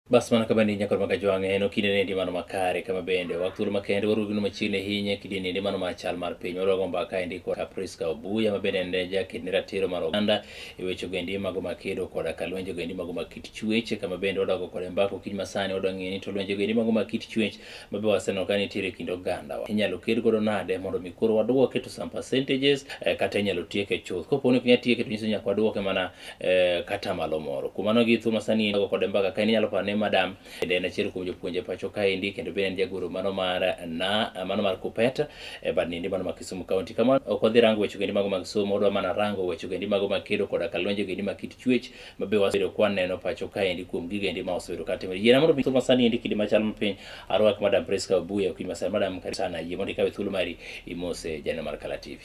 Bas mana kama ni nyakoro maka jwang'e en okinde ne ndi mano makare kama bende wak thuolo makende warugi no machiegni ahinya kidi ni ndi mano ma chal mar piny waruago mbaka endi kod Kapriska Obuya ma bende en jaked ni ratiro mar oganda e weche ogendi mago ma kedo koda ka lwenje ogendi mago ma kit chuech kama bende wadogo kode mbaka okinyi masani wadwa ng'eyo ni to lwenje ogendi mago ma kit chuech ma be waseneno ka nitiere e kind ogandawa inyalo ked godo nade mondo mi koro waduoke to some percentages eh, kata inyalo tieke chuth kopo ni ok inyal tieke to nyiso nyaka waduoke mana eh, kata malo moro kuom mano gi thuma sani nago kode mbaka ka inyalo paro ni madam bende en achiel kuom jopuonje pacho kaendi kendo bende en jagoro mano mar na mano mar kupet e bad nindi mano ma kisumu kaunti kama ok wadhi rango weche gendi mago mag somo wadwa mana rango weche gendi mago mag kedo koda kalonje gendi mag kit chuech ma be wasebedo kwaneno pacho kaendi kuom gigendi ma osebedo katimo yiena mondo thuma sani endi kidi machal mapiny arwak madam Priska Obuya okinyi masani madam karibu sana yie mondo ikawe thuolo mari imose janeno mar Kala TV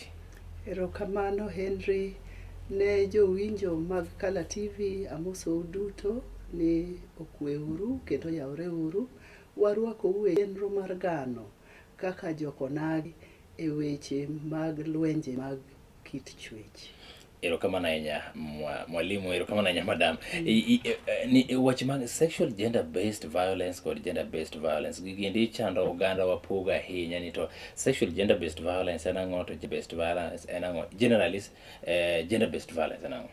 Erokamano Henry. Ne jowinjo mag Color TV amosou duto ni okwe uru kendo oyawre uru. Warwakou e chenro mar gano kaka jokonagi e weche mag lwenje mag kit chwech. Erokamano ahinya mwa- mwalimu, erokamano ahinya madam. I- i- e- e- ni- e, Weche mag sexual gender based violence kod gender based violence gigiendi chando oganda wapogo ahinya ni to Sexual gender based violence en ang'o to based violence en ang'o? Generally uh, eh, gender based violence en ang'o?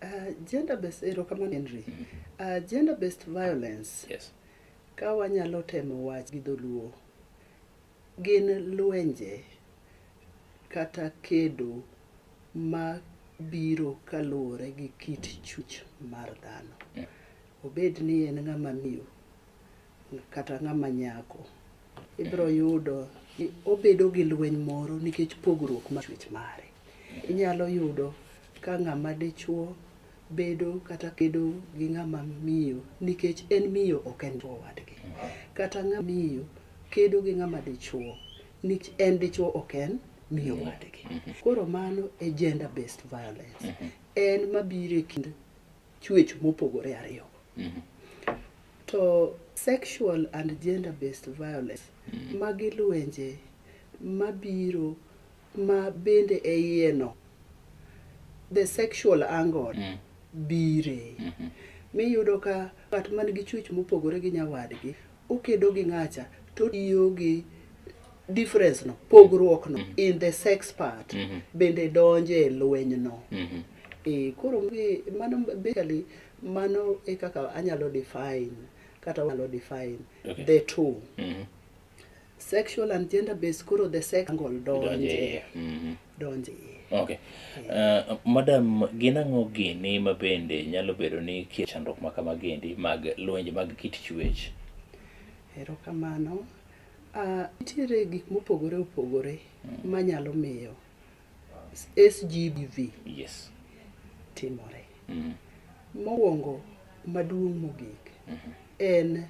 Uh, gender based erokamano Henry. Mm -hmm. uh, gender based violence. Yes. Ka wanyalo temo wach gi dholuo gin lwenje kata kedo ma biro kaluwore gi kit chuch mar dhano. Yeah. Obed ni en ng'ama miyo kata ng'ama nyako ibiro yudo ni obedo gi lweny moro nikech pogruok ma chwech mare inyalo yudo ka ng'ama dichuo bedo kata kedo gi ng'ama miyo nikech en miyo ok en chuo wadgi kata ng'ama miyo kedo gi ng'ama dichuo nikech en dichuo ok en miyo wadgi koro mano e gender based violence en mabiro e kind chuech mopogore ariyogo. To sexual and gender based violence magi lwenje mabiro ma bende e iyeno the sexual angle bire miyudo ka ng'at man gi chuech mopogore gi nyawadgi okedo gi ng'acha to otiyo gi difference no pogruok no mm-hmm. in the sex part mm -hmm. bende donje e lweny no mm -hmm. e, koro mano basically mano e kaka anyalo define kata anyalo define okay. the two mm -hmm. sexual and gender based koro the sex angle Donje donje iye. Mhm. donje iye. Okay. Uh, madam, gin ang'o gini ma bende nyalo bedo ni kie chandruok ma kamagi endi mag lwenje mag kit chuech? erokamano Ah, nitiere gik mopogore opogore manyalo miyo sgbv Yes. timore Mhm. mokwongo maduong' mogik en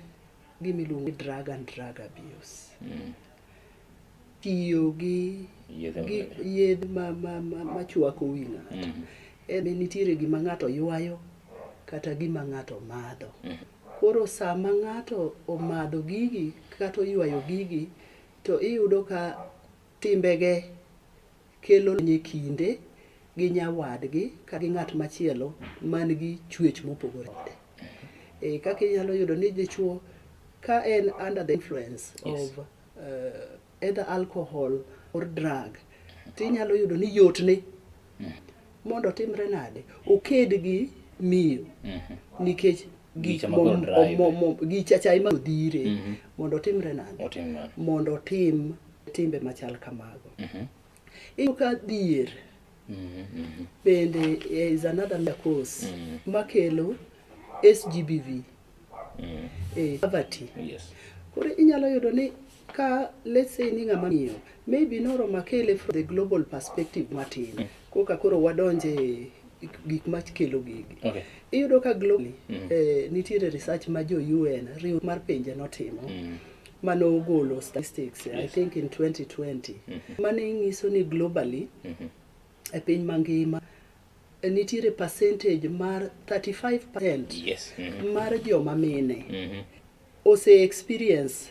gima iluongo ni drug and drug abuse Mm. tiyo gi Yedhe gi mabeyo. yedh ma ma ma machwako wi ng'ato Mm. en ni nitiere gima ng'ato ywayo kata gima ng'ato madho koro sama ng'ato omadho gigi kata oywayo gigi to iyudo ka timbege kelo lweny e kinde gi nyawadgi kata gi ng'at machielo man gi chuech mopogore kode. E, kaka inyalo yudo ni dichwo ka en under the influence yes. of uh, either alcohol or drug to inyalo yudo ni yotne mondo otimre nade oked gi miyo mm-hmm. nikech Gicha ma koro drive. mo- mo- gicha cha ema odhire Mhm. mondo otimre nade Otim nade? mondo otim timbe machal kamago Mhm. iyudo ka dhier Mhm, mhm. bende is another major cause Mm. makelo sgbv Mm. eh, poverty Yes. koro inyalo yudo ni ka let's say ni ng'ama miyo maybe noromo akele from the global perspective matin mm. koka koro wadonje gik makelo gigi okay. iyudo ka globally mm. eh, nitiere research ma jo UN riwruok mar pinje notimo mm. mane ogolo statistics yes. I think in 2020 mm -hmm. mane nyiso ni globally mm -hmm. e piny mangima eh, nitiere percentage mar 35% yes. mm -hmm. mar joma mine mm -hmm. ose experience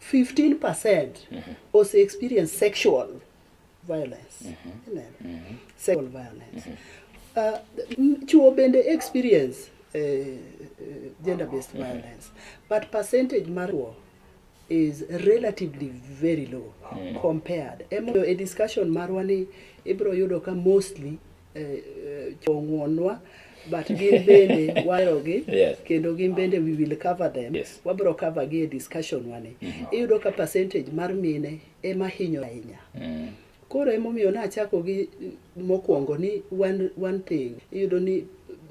15 percent ose experience sexual violence Ineno? sexual violence uh, n- chuo bende experience uh, uh, gender based violence but percentage mar chuo is relatively very low compared emomiyo e discussion marwa ni ibro yudo ka mostly ong'wonwa but gin bende waherogi Yes. kendo gin bende we will cover them Yes. wabiro cover gi e discussion wani iyudo ka percentage mar mine ema hinyo ahinya Mm. koro emomiyo nachako gi mokwongo ni one, one thing iyudo ni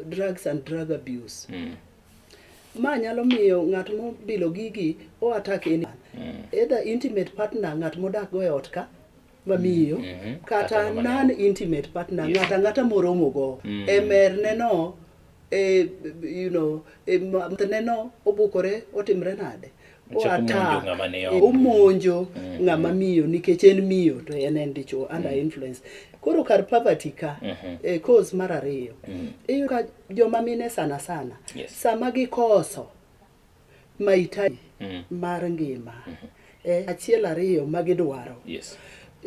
drugs and drug abuse Mm. ma nyalo miyo ng'at mobilo gigi o attack anyone either intimate partner ng'at modak go e ot ka mamiyo Mhm. kata Kata ng'ama non intimate partner Yes. ng'ata ng'ata moromo go Mm. e merne no e you know e ma- mtne no obukore otimre nade O Ochako monjo attack, ng'ama ni e, oko. omonjo Mm. ng'ama miyo nikech en miyo to en en dichuo under influence koro kar poverty ka Mhm. e cause mar ariyo Mm. iyudo ka joma mine sana sana Yes. sama gikoso mahitaji mm. mar ngima mm -hmm. e, achiel ariyo ma gidwaro yes.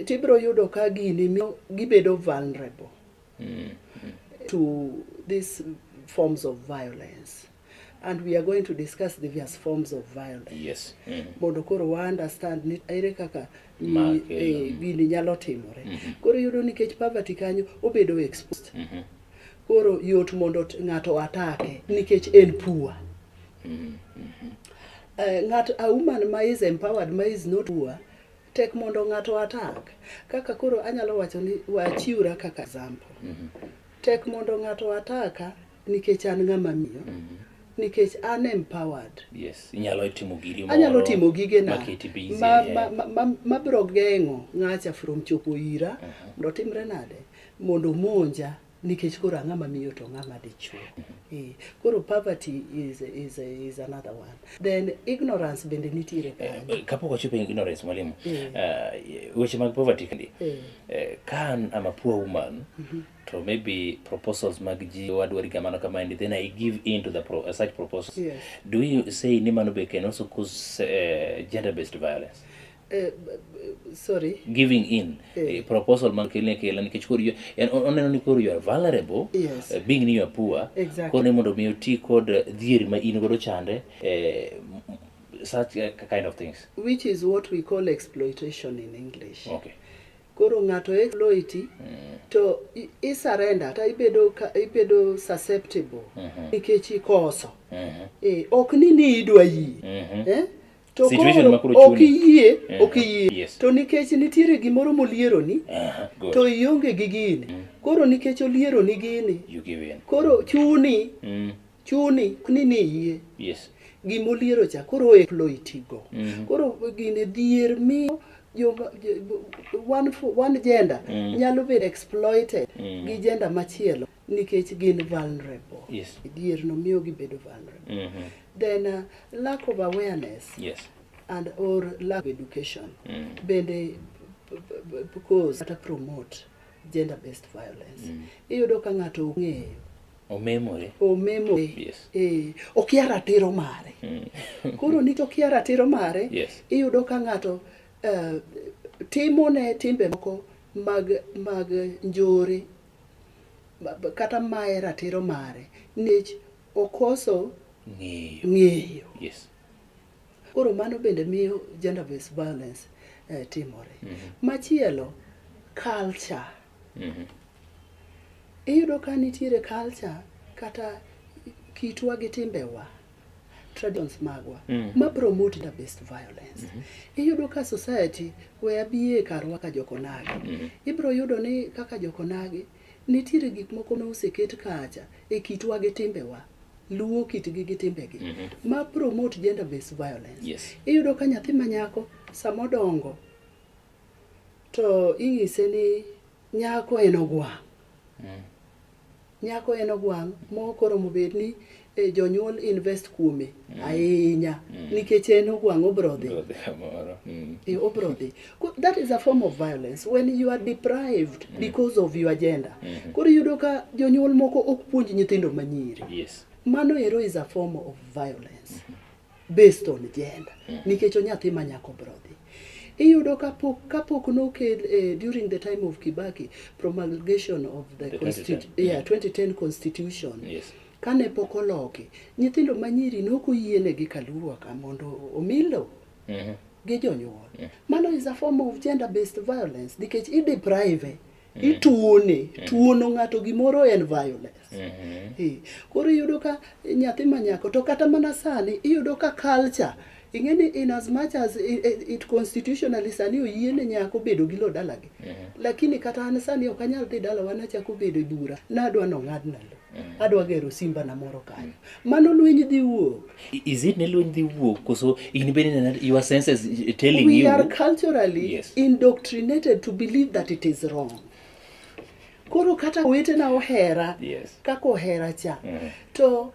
tibiro yudo ka gini miyo gibedo vulnerable mm -hmm. to these forms of violence and we are going to discuss the various forms of violence yes. mm -hmm. mondo koro wa understand ni ere kaka eh, gini nyalo timore mm -hmm. koro yudo nikech poverty kanyo obedo exposed mm -hmm. Koro yot mondo ng'ato atake nikech en poor. Mm -hmm. uh, ng'at a woman ma is empowered ma is not poor tek mondo ng'ato atak. Kaka koro anyalo wacho ni wachiwra kaka example. Mm -hmm. Tek mondo ng'ato ataka nikech an ng'ama miyo. Mm -hmm nikech an empowered yes inyalo timo giri moro anyalo timo gige na ma ma, ma, ma, ma bro gengo ngacha from chopo ira uh -huh. ndo timre nade mondo omonja nikech koro ang'ama miyo to ng'ama dichuo eh, koro poverty is, is, is another one then ignorance bende nitiere eh, eh, kapok wachopo e ignorance mwalimu eh. uh, weche mag poverty kindi eh. eh, kan am a poor woman mm -hmm. to maybe proposals mag ji wadwari kamano kamaendi then i give in to the pro, uh, such proposals yes. do you say ni mano be can also cause uh, gender based violence Eh, b- b- sorry giving in Eh. eh, proposal man kele kele nikech koro you- en- on- oneno ni koro you are vulnerable Yes. eh, being ni you are poor Exactly. koro ni mondo mi oti kod eh, dhier ma in godo chande eh, m- m- such eh, kind of things which is what we call exploitation in english okay koro ng'ato exploiti to i- i surrender ta ibedo ka- ibedo susceptible nikech ikoso Mhm. Eh, ok ni ni idwa yie Mhm. Eh? To Situation koro ma koro ok chuni. iyie, Eh, ok iyie. yes. To nikech nitiere gimoro molieroni, Aha, good. to ionge gi gini. Koro nikech olieroni gini, You give in. koro chuni, Mm. chuni ni ni iyie. Yes. Gima oliero cha koro exploitigo. Mhm. Koro gine dhier miyo joma- jo- one, fo- one gender Mm. nyalo bedo exploited Mm. gi gender machielo. nikech gin vulnerable Yes. dier no miyo gibedo vulnerable Mhm. then uh, lack of awareness Yes. and or lack of education Mm. bende b- b- b- because kata promote gender based violence Mm. iyudo ka ng'ato ong'eyo Omemore. omemore Yes. eh, okia ratiro mare Mm. koro nikech okia ratiro mare Yes. iyudo ka ng'ato eh, timone timbe moko mag mag njore kata maye ratiro mare nich okoso ng'eyo, ng'eyo. Yes. koro mano bende miyo gender based violence eh, timore mm -hmm. machielo culture mm -hmm. iyudo ka nitiere culture kata kitwa gi timbewa traditions magwa mm. ma promote the best violence mm -hmm. iyudo ka society we abiye karwa ka jokonagi mm -hmm. ibro yudo ni kaka jokonagi nitiere gik moko ma oseket kacha e kitwa gi timbewa luwo kitgi gi timbegi mm -hmm. ma promote gender based violence yes. iyudo ka nyathi manyako samodongo to ing'ise ni nyako en ogwa mm. Nyako en ogwang' mokoromo bed ni eh, jonyuol invest kuome ahinya nikech en ogwang' obro dhi. Bro, dhi kamoro. Mm. Eh, obro dhi. Ko- That is a form of violence when you are deprived because of your gender. Koro iyudo ka jonyuol moko ok puonj nyithindo manyiri. Yes. Mano ero is a form of violence. based on gender mm. nikech onyathi ma nyako brodhi iyudo kapok kapok nokel eh, during the time of Kibaki promulgation of the, the constitu- 2010. Yeah, 2010 constitution yes. kane pok oloki nyithindo manyiri noko yienegi kaluruwa ka mondo omilo mm -hmm. gi jonyuol mm. mano is a form of gender based violence nikech i deprive ituone tuono ng'ato gimoro en violence Eh, koro iyudo ka nyathi manyako to kata mana sani iyudo ka culture ing'e ni in as much as i- i- it constitutionally sani oyie ne nyako bedo gi lo dalagi lakini kata an sani ok anyal dhi dalawa nachako bedo e bura nadwa nong'adna lo adwa gero simba na moro kanyo mano lweny dhi wuok I- is it ne lweny dhi wuok koso in bende nena- your senses eh, telling we you are culturally Yes. indoctrinated to believe that it is wrong koro kata wetena ohera Yes. kaka ohera cha to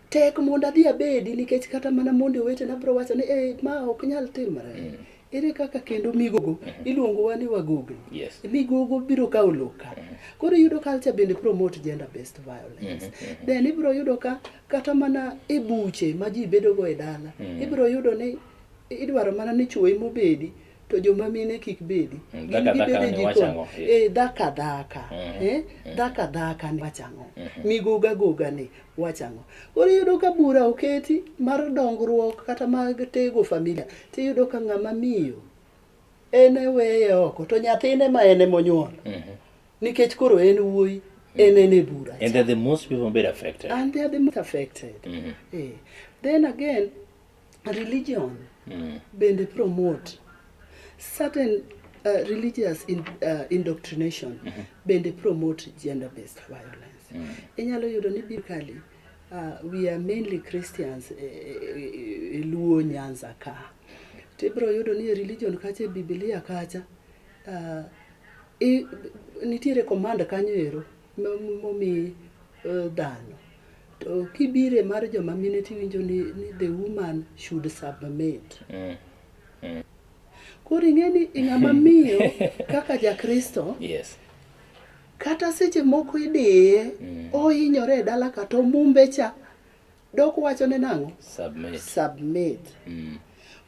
Tek mondo adhi abedi nikech kata mana mondo wetena biro wacho ni eh, ma ok nyal timore. Mm. Ere kaka kendo migogo mm-hmm. iluongowa ni wagogo. Yes. Migogo biro kawo loka. Mm-hmm. Koro yudo culture bende promote gender based violence. Mm-hmm. Then ibiro yudo ka kata mana e buche ma ji bedogo e dala. Mm. Ibiro yudo ni idwaro mana ni chuo emobedi. to joma mine kik bedi Mm, Gin dhaka gibede dhaka ni jikon. wacho ang'o? Eh, dhaka dhaka Mhm. Eh, dhaka dhaka ni wacho ang'o Mhm. migoga goga ni wacho ang'o koro iyudo ka bura oketi mar dongruok kata mag tego familia tiyudo ka ng'ama miyo en eweye oko to nyathine ma en emonyuol Mhm. nikech koro en wuoyi en en e bura and they're the most people being affected and they are the most affected Mhm. Eh, then again religion mm. bende promote certain uh, religious in, uh, indoctrination mm -hmm. bende promote gender based violence mm. inyalo yudo ni bikali uh, we are mainly christians e, e, e, e luo nyanza ka to ibiro yudo ni e religion kacha e bibilia kacha uh, i, nitiere command kanyo ero momi eh, dhano to kibire mar joma mine tiwinjo ni, ni the woman should submit mm. Mm. koro ing'e ni ing'ama miyo kaka jakristo yes kata seche moko idiye mm. ohinyore e dala kata omumbe cha Dok wacho ne nang'o? Submit. Submit. Mm.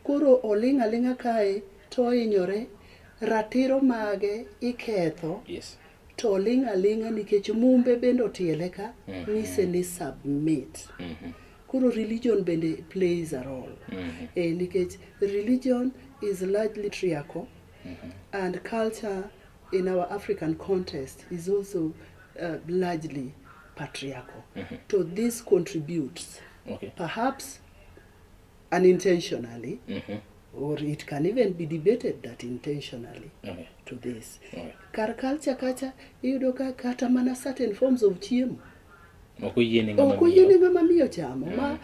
Koro oling' aling'a kae to ohinyore, ratiro mage iketho. Yes. To oling' aling'a nikech mumbe bende otiele ka mm -hmm. nise ni submit. Mm -hmm. Koro religion bende plays a role. Mm -hmm. E, nikech religion is largely triaco mm -hmm. and culture in our African context is also uh, largely patriarchal. Mm -hmm. So this contributes, okay. perhaps unintentionally, mm -hmm. or it can even be debated that intentionally okay. to this. Okay. Kar culture kacha iyudo ka kata mana certain forms of chiemo ok oyiene ng'ama miyo chamo mm. ma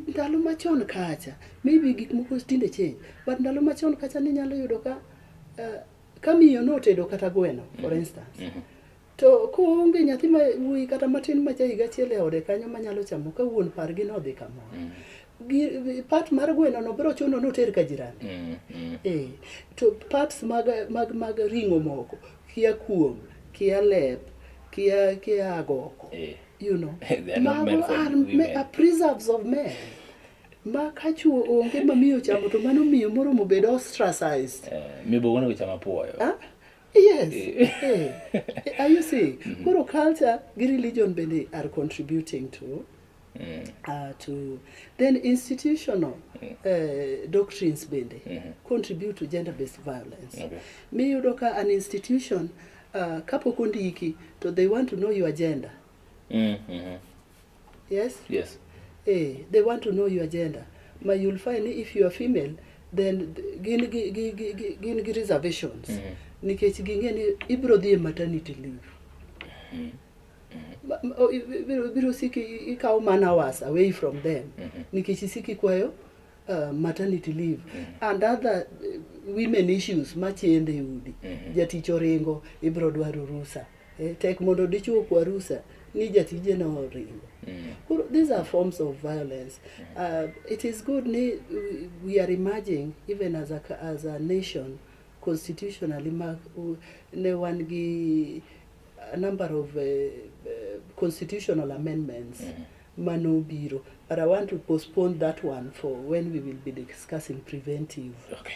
ndalo machon kacha maybe gik moko tinde change but ndalo machon kacha ninyalo yudo ka uh, ka miyo notedo kata gweno for mm-hmm. instance mm-hmm. to koonge nyathi ma wuoyi kata matin ma ja higa achiel e ode kanyo manyalo chamo ka wuon pargi nodhi kamoro mm-hmm. part mar gweno no biro chuno noter ka jirani eh, to parts mag, mag, mag ring'o moko kia kuom kia lep kia kia agoko eh. you know mago are, are preserves of men ma ka chuo onge ma miyo chamo to mano miyo moromo bedo ostracized eh, mibogo ne chama puoyo ah? yes eh. eh. eh. are you see mm-hmm. koro culture gi religion bende are contributing to Mm. Uh, to then institutional mm. uh, doctrines bende mm -hmm. contribute to gender based violence okay. miyudo ka an institution uh, kapok ondiki to they want to know your gender mm -hmm. Yes? Yes. Eh, they want to know your gender. But you'll find if you are female, then gin gi gi gi gi- gin gi reservations. Mhm. Nikech ging'e ni ibiro dhi e maternity leave. Ma- ma- o- i- i- Ibiro ibiro siki i- ikawo man hours away from them. Nikech isiki kwayo uh, maternity leave and other uh, women issues machende e udi. Jatich oringo ibiro dwaro rusa. Eh, tek mondo dichwo okwa rusa ni jatije no oringo Koro, these are forms of violence uh, it is good ni we- we are emerging even as a, ca- as a nation constitutionally ma u- ne wan gi a number of uh, uh, constitutional amendments manobiro but i want to postpone that one for when we will be discussing preventive Okay.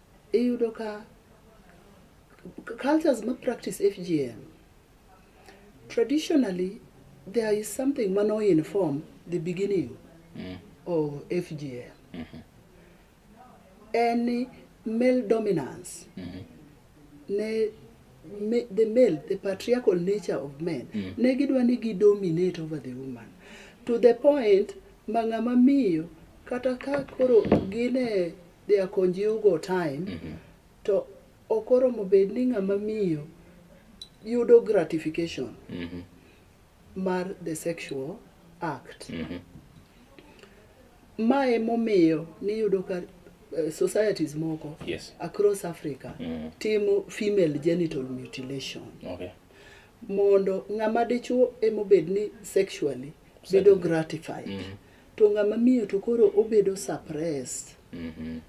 Iyudo ka cultures ma practice FGM, traditionally there is something mano inform the beginning mm. of FGM. Mm -hmm. Any male dominance, mm -hmm. ne, me, the male, the patriarchal nature of men, mm -hmm. ne gidwa ni gidominate over the woman to the point ma ng'ama miyo kata ka koro gine dhi akonjiu go time mhm. to ok oromo bed ni ng'ama miyo yudo gratification mhm. mar the sexual act mhm. ma emomiyo niyudo ka eh, societies moko yes. across africa mm. timo female genital mutilation okay. mondo ng'ama dichuo emobed ni sexually bedo gratified mm. to ng'ama miyo to koro obedo suppressed Mhm.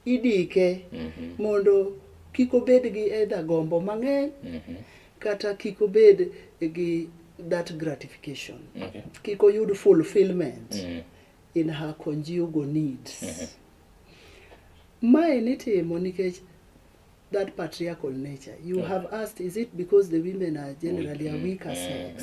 idike Mhm. mondo kik obed gi either gombo mang'eny Mhm. kata kik obed gi that gratification Okay. kik oyud fulfillment Mhm. in her conjugal needs mae nitimo nikech that patriarchal nature you have asked is it because the women are generally a weaker sex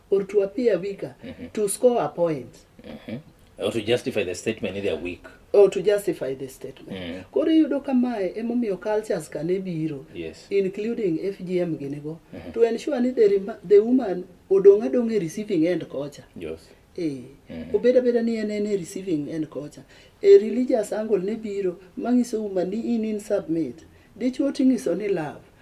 or to appear weaker to score a point Or to justify the statement ni they are weak. or to justify the statement Mm. koro iyudo ka mae emomiyo cultures ka ne biro Yes. including fgm ginigo to ensure ni the, rema- the woman odong' adong' e receiving end kocha Yes. Eh, obed abeda ni en en e receiving end kocha e religious angle ne biro manyiso uma ni in in submit dichwo ting'iso ni love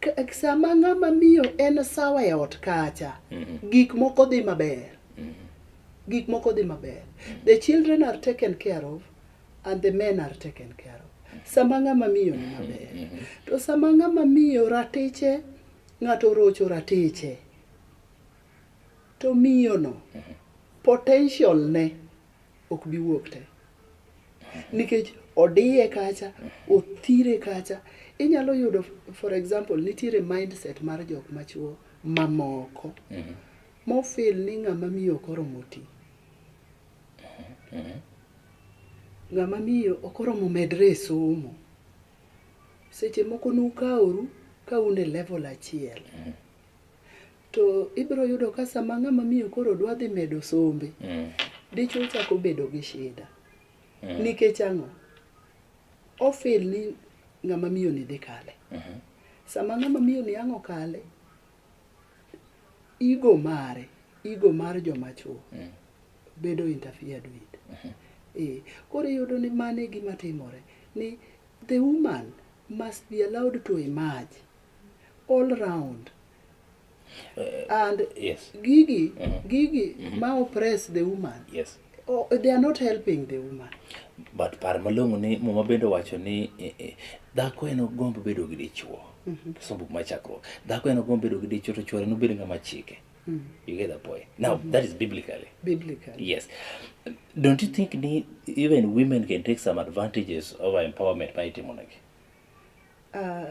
K- sama ng'ama miyo en sawa e ot kacha gik moko dhi maber gik moko dhi maber the children are taken care of and the men are taken care of sama ng'ama miyo ni maber to sama ng'ama miyo ratiche ng'ato orocho ratiche to miyono potential ne ok bi wuok te nikech odiye kacha othire kacha inyalo yudo for example nitiere mindset mar jok machuo mamoko mhm. mofil ni ng'ama miyo ok oromo ti mhm. ng'ama miyo ok oromo medre e somo seche moko nukaoru ka un e level achiel mhm. To ibiro yudo ka sama ng'ama miyo koro dwa dhi medo sombe, Mm. dichwo chako bedo gi shida. Mm. Nikech ang'o? Ofil ni ng'ama miyo ni dhi kale. Mhm. Sama ng'ama miyo ni ang' okale, igo mare, igo mar joma chwo Mm. bedo interfered with. Eh, koro iyudo ni mano e gima timore ni the woman must be allowed to emerge all round and yes gigi gigi ma oppress the woman yes oh, they are not helping the woman but par malong'o ni muma bende owacho ni eh, eh, dhako en ogombo bedo gi dichwo sombo ma chakruok dhako en ogombo bedo gi dichwo to chwore nobed ng'ama chike you get the point now that is biblically biblically yes don't you think ni even women can take some advantages over empowerment ma itimonegi uh,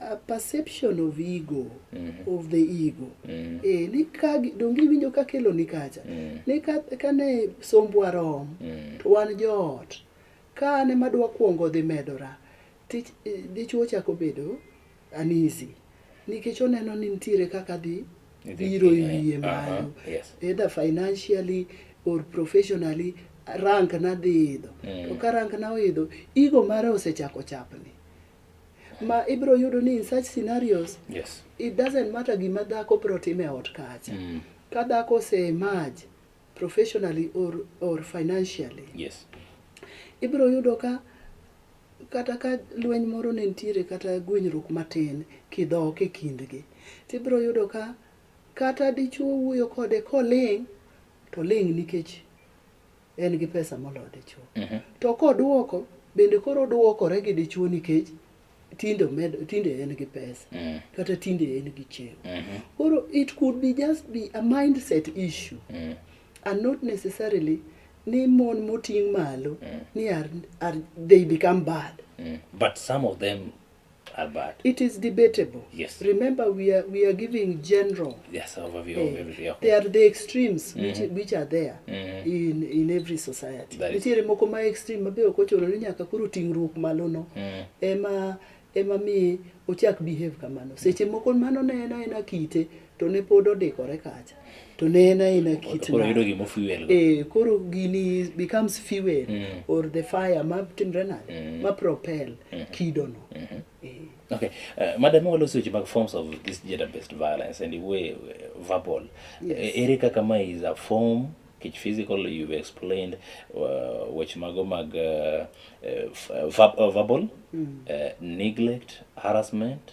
a perception of ego of the ego eh, ni ka gi- donge iwinjo ka kelo ni kacha ni ka, ka ne sombwa rom to wan joot ka an ema dwa kwongo dhi medora tich eh, dichwo chako bedo anisi nikech oneno ni nitiere kaka dhi Idhi biro piny, eh, iwiye aha, malo yes. either financially or professionally rank na dhi idho to ka rank na oidho igo mare osechako chapni ma ibiro yudo ni in such scenarios yes it doesn't matter gima dhako biro timo e ot kacha mm. ka dhako ose emerge professionally or, or financially yes ibiro yudo ka kata ka lweny moro ne nitiere kata gwenyruok matin kidhok e kindgi tibiro yudo ka kata dichuo wuoyo kode koling to ling nikech en gi pesa moloyo dichuo Mhm. to koduoko bende koro oduokore gi dichuo nikech tinde omed- tinde en gi pesa Mm. kata tinde en gi chiemo Mhm. koro it could be just be a mindset issue Mm. and not necessarily ni mon moting' malo ni are, are, they become bad Mm. but some of them are bad. It is debatable. Yes. Remember, we are we are giving general. Yes, overview of eh, everything. They are the extremes mm -hmm. which, mm-hmm. which are there mm -hmm. in in every society. Nitiere moko ma extreme mabe ok ochuno ni nyaka koro ting'ruok malo no. Mm. Ema ema mi ochak behave kamano. Seche moko mano ne en aena kite. Mm. to ne pod odikore kacha to ne en aena kit Koro yudo gima fuel go. eh, koro gini becomes fuel Mm. or the fire ma timre nade Mm. ma propel Mhm. kidono Mhm. eh. Okay. Uh, madam waloso weche mag forms of this gender based violence and way uh, verbal. Yes. Eh, Ere kaka ma is a form kech physical you've explained uh, weche mago mag uh, uh, f- uh, verb, uh, verbal Mm. uh, neglect harassment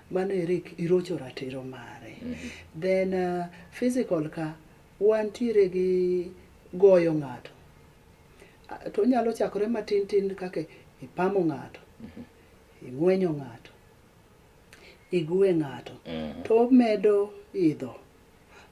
Mano eri irocho ratiro mare. Then uh, physical ka wantiere gi goyo ng'ato. Ah, To onyalo chakore matin tin kaka ipamo ng'ato, ing'wenyo ng'ato, igwe ng'ato. To omedo idho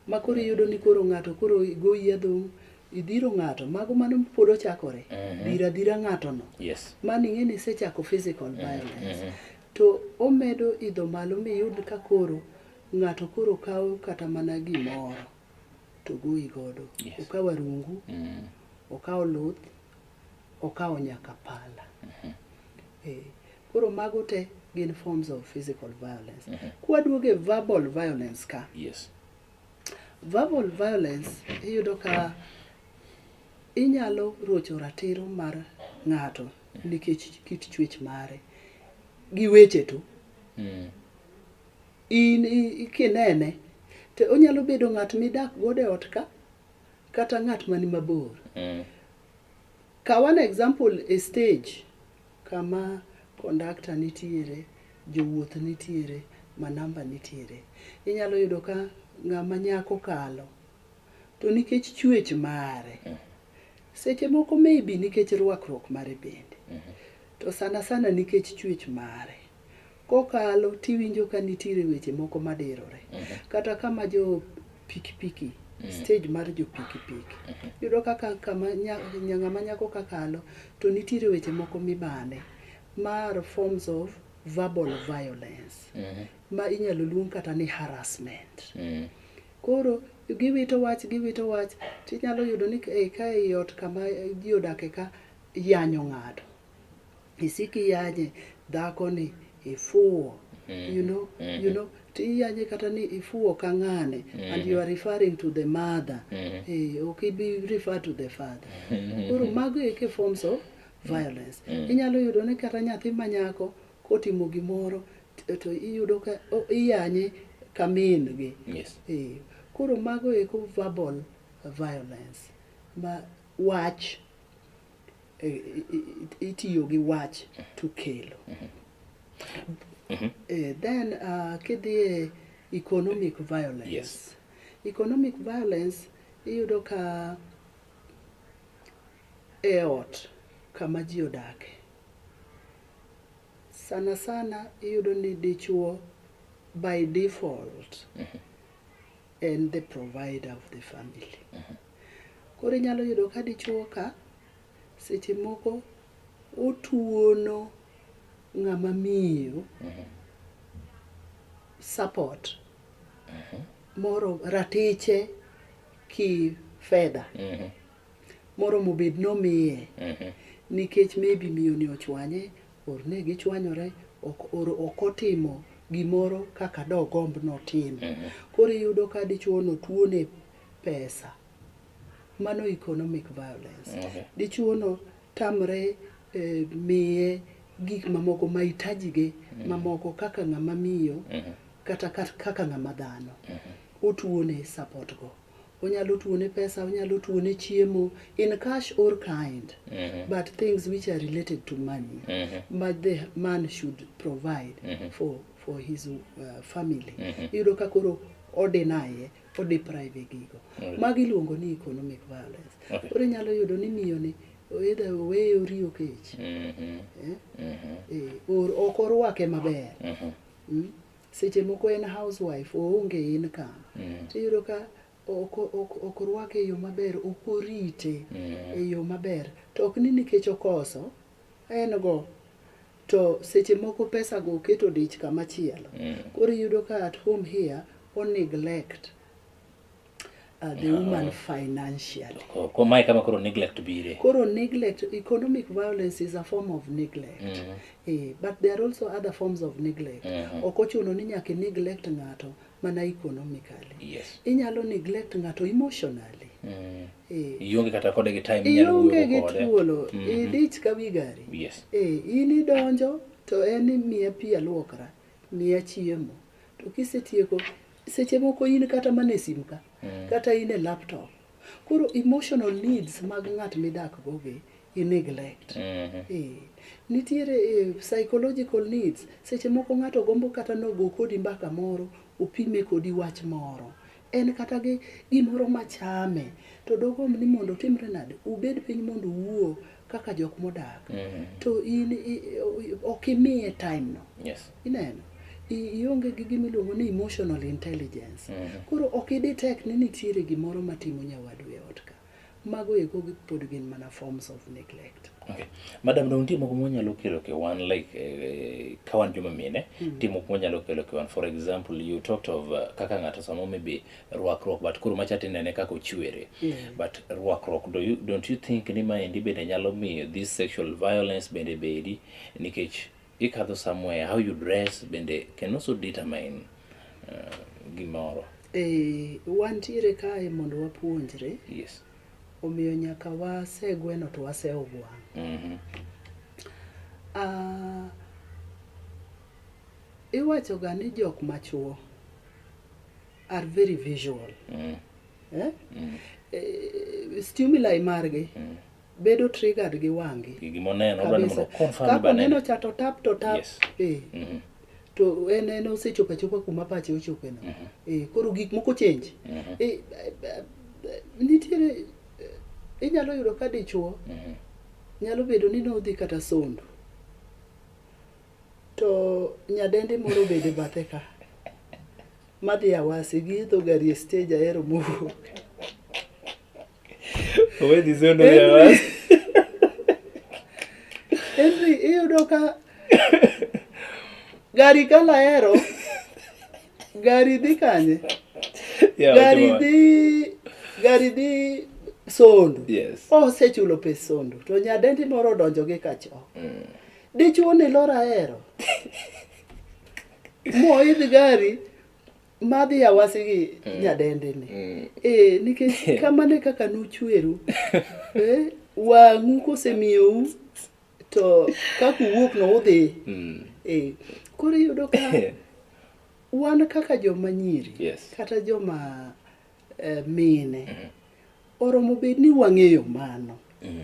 ma koro iyudo ni koro ng'ato koro goyi adhong' idhiro ng'ato mago mano pod ochakore Mhm. dhiro adhira ng'atono yes mano ing'e ni isechako physical violence mhm. to omedo idho malo miyud ka koro ng'ato koro kawo kata mana gimoro to goyi godo Yes. okawo arungu Mm, okawo luth okawo nyaka pala Eh, koro mago te gin forms of physical violence kwaduoge verbal violence ka yes verbal violence iyudo ka inyalo rocho ratiro mar ng'ato nikech kit chuech mare gi weche to Mm. in i- i- kinene to onyalo bedo ng'at midak godo e ot ka kata ng'at mani mabor. Mm. Kaw an example e stage kama conductor nitiere, jowuoth nitiere, manamba nitiere. Inyalo yudo ka ng'ama nyako kalo to nikech chuech mare mm. seche moko maybe nikech rwakruok mare bende mm -hmm. to sana sana nikech chuech mare Kokalo tiwinjo ka nitiere weche moko madirore. Kata kama jo pikipiki, stage mar jo pikipiki. Iyudo kaka kama nya- nya- ng'ama nyako kakalo to nitiere weche moko mibane. Ma are forms of verbal violence. Ma inyalo luong kata ni harassment. Koro giwito wach giwito wach tinyalo yudo ni ka ei- ka ei ot kama ji odake ka yanyo ng'ato. isiko iyanye dhako ni ifuwo you know you know to iyanye kata ni ifuwo ka ng'ane and you are referring to the mother eh, ok ibi refer to the father koro mago eke forms of violence inyalo yudo ni kata nyathi manyako kotimo gimoro to- to iyudo ka o- iyanye ka min gi Yes. Eh, koro mago eko verbal violence ma wach eh, itiyo gi wach to kelo eh, then uh, kidhie economic violence yes. economic violence iyudo ka e ot kama ji odake sana sana iyudo ni dichuo by default mm -hmm. and the provider of the family mm -hmm. Koro inyalo yudo ka dichuo ka seche moko otuono ng'ama miyo support moro ratiche ki fedha moromo bed nomiye nikech maybe miyoni ochwanye or ne gichwanyore ok or ok otimo gimoro kaka dogomb notim. Koro iyudo ka dichuono tuone pesa mano economic violence okay. dichuono tamre eh, miye gik mamoko mahitajige mm. mamoko kaka ng'ama miyo mm -hmm. kata kaka ng'ama dhano mm -hmm. otuone support go onyalo tuone pesa onyalo tuone chiemo in cash or kind mm -hmm. but things which are related to money mm -hmm. but the man should provide mm -hmm. for, for his uh, family mm -hmm. yudo ka koro odinaye odeprive gigo Alright. magi iluongo ni economic violence Okay. koro inyalo yudo ni miyoni either oweye oriyo kech Mhm, eh, mhm, eh, or ok orwake maber mhm, Mm. seche moko en housewife oonge income mhm, tiyudo ka ok ok- ok orwake e yo maber ok orite mhm. e yo maber to ok ni nikech okoso en go to seche moko pesa go oketo dich kama chielo mm. koro iyudo ka at home here o neglect Uh, the no. Ah. woman financially. Oh, oh, mae kama koro neglect bire. Koro neglect, economic violence is a form of neglect. Mm -hmm. eh, but there are also other forms of neglect. Mm -hmm. Okochuno ni nyaka neglect ng'ato mana economically Yes. inyalo neglect ng'ato emotionally Mm. Eh. Ionge kata kode gi time inyalo ionge wuoyo gi kode. thuolo Mhm. idich ka wi gari Yes. Eh, in idonjo to en ni miya pi aluokra miya chiemo to kisetieko seche moko in kata mana e simu ka Mm. kata in e laptop Koro emotional needs mag ng'at midakgo gi i neglect. Eh, Nitiere eh, psychological needs. Seche moko ng'ato gombo kata nogo kodi mbaka moro, opime kodi wach moro. En kata gi gimoro machame to dogomb ni mondo otimre nade, ubed piny mondo uwuo kaka jok modak mm. to in ok imiye time no yes. ineno ionge gi gima iluongo ni emotional intelligence mm -hmm. koro ok idi tek ni nitiere gimoro matimo nyawadu e ot ka mago eko pod gin mana forms of neglect okay. madam dong nitie moko mwanyalo kelo ke wan like eh, ka wan joma mine mm -hmm. nitie moko mwanyalo kelo ke wan for example you talked of uh, kaka ng'ato samo maybe rwakruok but koro macha tinene kaka ochwere mm. but rwakruok do you, don't you think ni maendi bende nyalo miyo this sexual violence bende bedi nikech ikadho somewhere how you dress bende can also determine uh, gimoro eh, wantiere kae mondo wapuonjre yes. omiyo nyaka wasegweno to waseogwang mm -hmm. uh, iwachoga ni jok machuo are very visual mm. eh? Mm. Eh, stimuli margi mm. bedo triggered gi wangi kapo neno cha to tap to tap yes. eh. mm -hmm. to en en osechopo achopa kuma pache ochope no mm -hmm. eh, koro gik moko change mm -hmm. eh, eh, eh, eh nitiere eh, inyalo yudo ka dichuo mm -hmm. nyalo bedo ni nodhi kata sondo To nyadendi moro obedo e bathe ka. Madhi Awasi giidho gari e stage ahero mowuok. Owe dhi zondo ya Henry. was. Henry iyudo ka gari kala ahero gari dhi kanye? Yeah, Gari wacho wa. dhi gari dhi sondo. Yes. Osechulo pes sondo to nyadendi moro odonjo gi kachoo. Dichuo ni lor ahero. Moidh gari madhi awasi gi mm. nyadende ni. Mm. Eh, nikech kamane kaka nuchweru. Eh, wang'u kosemiyou to kaka uwuok no udhi. Mm. Eh, koro iyudo ka wan kaka joma nyiri yes. kata joma eh, mine mm. oromo bed ni wang'eyo mano. Mm.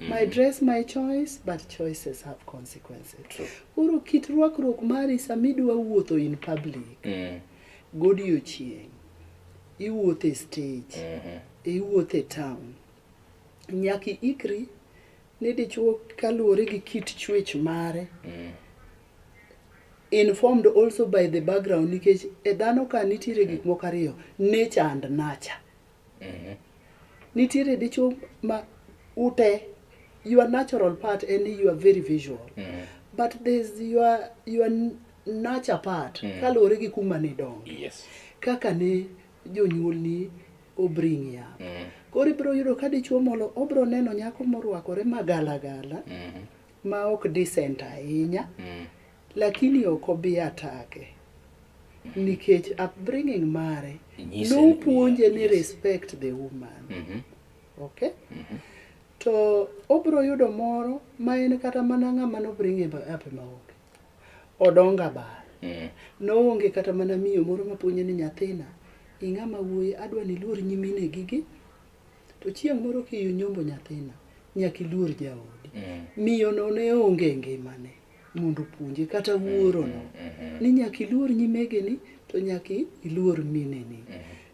my mm. dress my choice but choices have consequences koro kit rwakruok mari sama idwa wuotho in public mm. godiochieng' iwuotho e stage mm-hmm. iwuotho e town nyaka ikri ni dichuo kaluwore gi kit chwech mare mm. informed also by the background nikech e dhano ka nitiere gik moko ariyo nature and nature nitiere dichuo ma ute your natural part en ni you are very visual but there's your, your nature part kaluwore gi kuma nidongo yes kaka ne jonyuolni obring ya koro ibiro yudo ka dichuo molo obiro neno nyako morwakore magalagala ma ok decent ahinya Lakini ok obi atake nikech upbringing mare Inyise ni- nopuonje ni yes. respect the woman Mhm. okay to obiro yudo moro ma en kata mana ng'ama nobringe ape maonge odonga bar Mm. noonge kata mana miyo moro mapuonje ni nyathina ing'ama wuoyi adwa ni iluor nyimine gigi to chieng' moro kiyunyombo nyathina nyaka iluor jaodi Mm. miyono ne onge e ngimane mondo opuonje kata wuorono ni nyaka iluor nyimegeni to nyaka iluor mineni.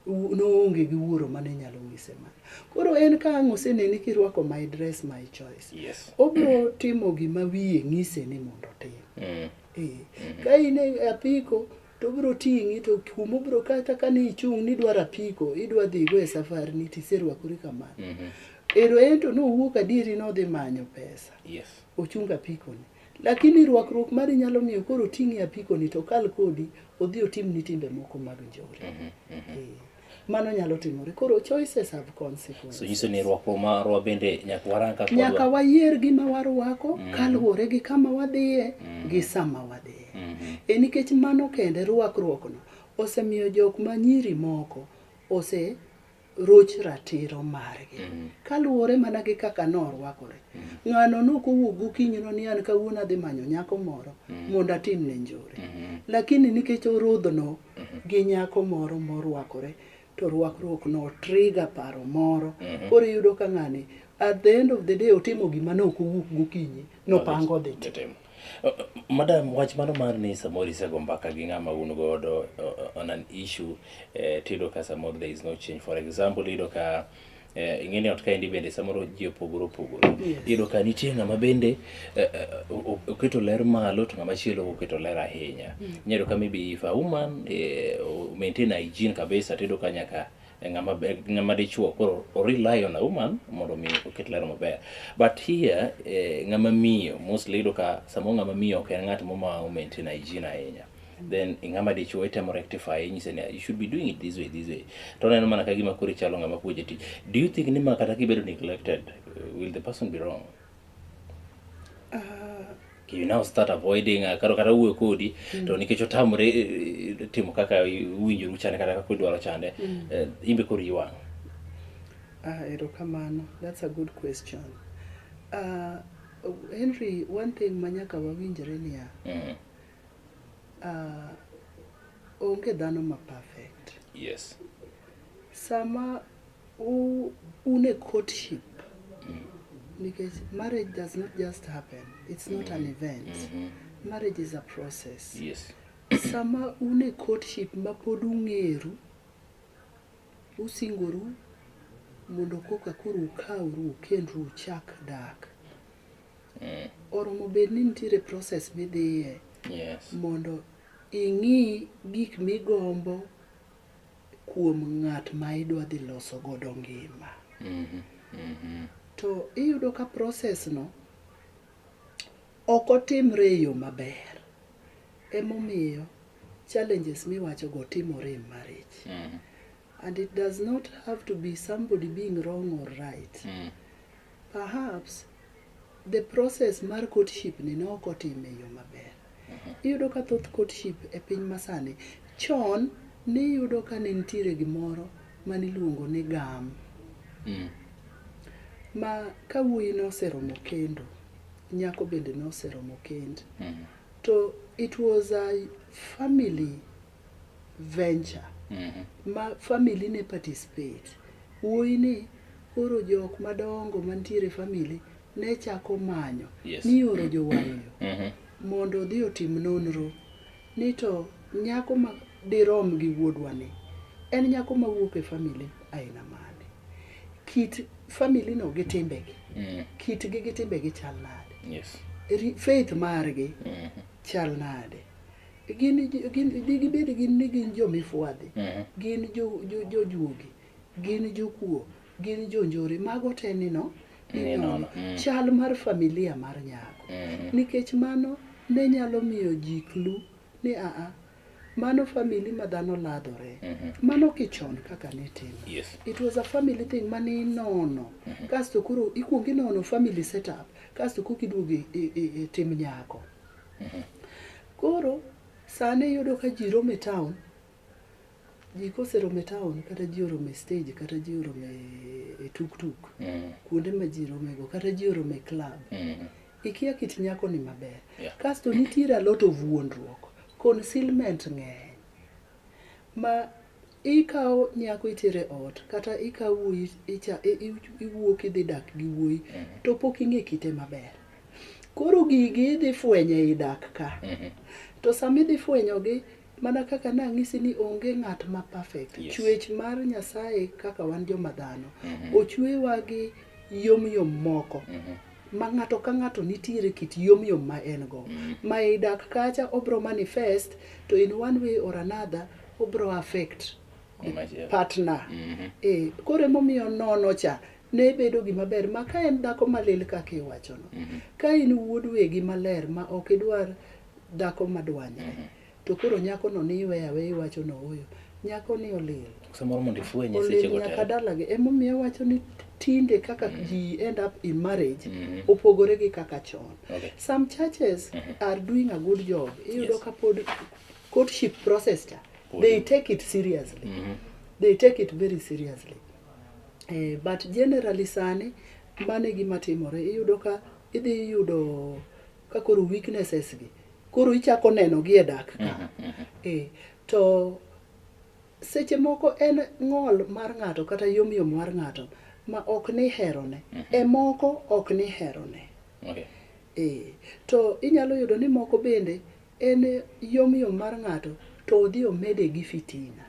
Wu- Noonge gi wuoro mane nyalo nyise ma. Koro en ka ang' oseneni kirwako my dress my choice. Yes. Obro timo gima wiye ng'ise ni mondo otim. Mm. Eh, ka in e apiko to obro ting'i to kuma obro kata ka ni ichung' ni idwaro apiko idwa dhigo e safari ni tiserwakori kamano. Mhm. Ero en to nowuok adieri nodhi manyo pesa. Yes. ochung apikoni. Lakini rwakruok mari nyalo miyo koro oting'i e apikoni to okal kodi odhi otimni timbe moko mag njore. Mhm, mhm. Eh, Mano nyalo timore. Koro choices have consequences. So nyiso ni rwakruok marwa bende nyaka warang kaka nyaka wadwa. wayier gima warwako mm. kaluwore gi kama wadhiye mm. gi sama wadhiye mm -hmm. e nikech mano kende rwakruokno osemiyo jok ma nyiri moko ose roch ratiro margi mm. kaluwore mana gi kaka norwakore mm. ng'ano nok owuok gokinyino ni an kawuono adhi manyo nyako moro mm. mondo atim ne njore mm-hmm. lakini nikech orodhno mm-hmm. gi nyako moro morwakore to rwakruok no triga paro moro mm-hmm. koro iyudo ka ng'ani at the end of the day otimo gima ne ok owuok gokinyi nopango dhi Madam, wach mano mar ni samoro isego mbaka gi ng'ama un godo uh, on an issue eh, tiyudo ka samoro there is no change. For example, iyudo ka eh, ing'eni ot kaendi bende samoro ji opogore opogore. Iyudo ka nitie ng'ama bende eh, eh, o- o- oketo ler malo to ng'ama chielo oketo ler ahinya. Inyalo ka maybe if a woman eh, o- maintain hygiene kabisa tiyudo ka nyaka e ng'ama be- ng'ama dichuo koro o rely on a woman mondo mi oket ler maber but here eh, ng'ama miyo mostly iyudo ka samoro ng'ama miyo ok en ng'at moma o maintain hygiene ahinya then i ng'ama dichuo itemo rectify inyise ni you should be doing it this way this way to oneno mana ka gima koro ichalo ng'ama puonje tich do you think ni ma kata kibedo neglected eh, will the person be wrong you now start avoiding uh, kata kata wuoyo kodi mm. to nikech otamre eh, timo kaka uwinjoru chande kata kaka udwaro chande mm. uh, imbe koro iwang' ah, erokamano that's a good question uh, henry one thing ma nyaka wawinjre niya mm. uh, onge dhano ma perfect yes sama un e courtship nikech marriage does not just happen it's not an event marriage is a process Yes. sama un e courtship ma pod ung'eru usingoru mondo koka koro ukawru ukendru uchak dak oromo bed ni nitiere process midhiye Yes. mondo ing'i gik migombo kuom ng'at ma idwa dhi loso godo ngima. To iyudo ka process no ok otimre e yo maber. Emomiyo challenges miwacho go timore e marriage. And it does not have to be somebody being wrong or right. Perhaps the process mar courtship ni ne ok otim e yo maber. Iyudo ka thoth courtship e piny masani, chon niyudo ka ne nitiere gimoro mane iluongo ni gam. Mm. Ma ka wuoyi noseromo kendo, nyako bende noseromo kend. Mm. To it was a family venture ma family ne participate wuoyi ni koro jok madongo mantiere e family ne chako manyo Yes. ni oro jowayo Mhm. mondo odhi otim nonro ni to nyako ma dirom gi wuodwa ni en nyako ma wuok e famili aina mane kit famili no gi timbegi Mm. kitgi gi timbegi chal nade Yes. Ri- faith margi Mhm. chal nade gin jo- gin digibed gin ni gin jomifwadhi Mhm. gin jo- jo- jojuogi gin jokuo gin jonjore mago te nino Ni ninono nono, mm. chal mar familia mar nyako Mhm. nikech mano ne nyalo miyo ji klu ni aa mano famili ma dhano ladhore Mhm. mano kichon kaka nitimo Yes. it was a family thing mane inono kasto koro ikuongo inono family setup kasto kok iduogo e- e- e- e tim nyako Koro sani iyudo ka ji romo e town, ji koseromo e town kata ji oromo e stage kata ji oromo e- e tuktuk Mm. kuonde ma ji romego kata ji oromo e club Mm. ikia kit nyakoni maber Yeah. kasto nitiere a lot of wuondruok concealment ng'eny ma Ikawo nyako itere ot kata ikawo wuoyi icha iwuok idhi dak gi wuoyi to pok ing'e kite maber. Koro gigi idhi fwenyo ei dak ka. To sama idhi fwenyogi mana kaka nang'isi ni onge ng'at ma perfect. Yes. Chwech mar Nyasaye kaka wan joma dhano ochwewa gi yom yom moko ma ng'ato ka ng'ato nitiere kit yom yom ma en go. Ma ei dak kacha obro manifest to in one way or another obro affect Machielo. partner Mhm. eh, koro emomiyo nono cha ne bedo gima ber ma ka en dhako malil kaka iwachono ka in wuod wegi maler ma ok idwar dhako madwanyre to koro nyakono ni iwe awe iwacho no oyo nyakoni olil samoro mondo ifwenye olil sechego nyaka te dalagi emomiyo wacho ni tinde kaka ji end up in marriage Mhm. opogore gi kaka chon Okay. some churches are doing a good job iyudo Yes. ka pod courtship process cha they take it seriously they take it very seriously eh, but generally sani mano e gima timore iyudo ka idhi yudo ka koro weaknesses gi koro ichako neno gi e dak ka eh, to seche moko en ng'ol mar ng'ato kata yomyom mar ng'ato ma ok ni herone e moko ok ni herone Okay. Eh, to inyalo yudo ni moko bende En yom yom mar ng'ato to odhi omede gi fitina.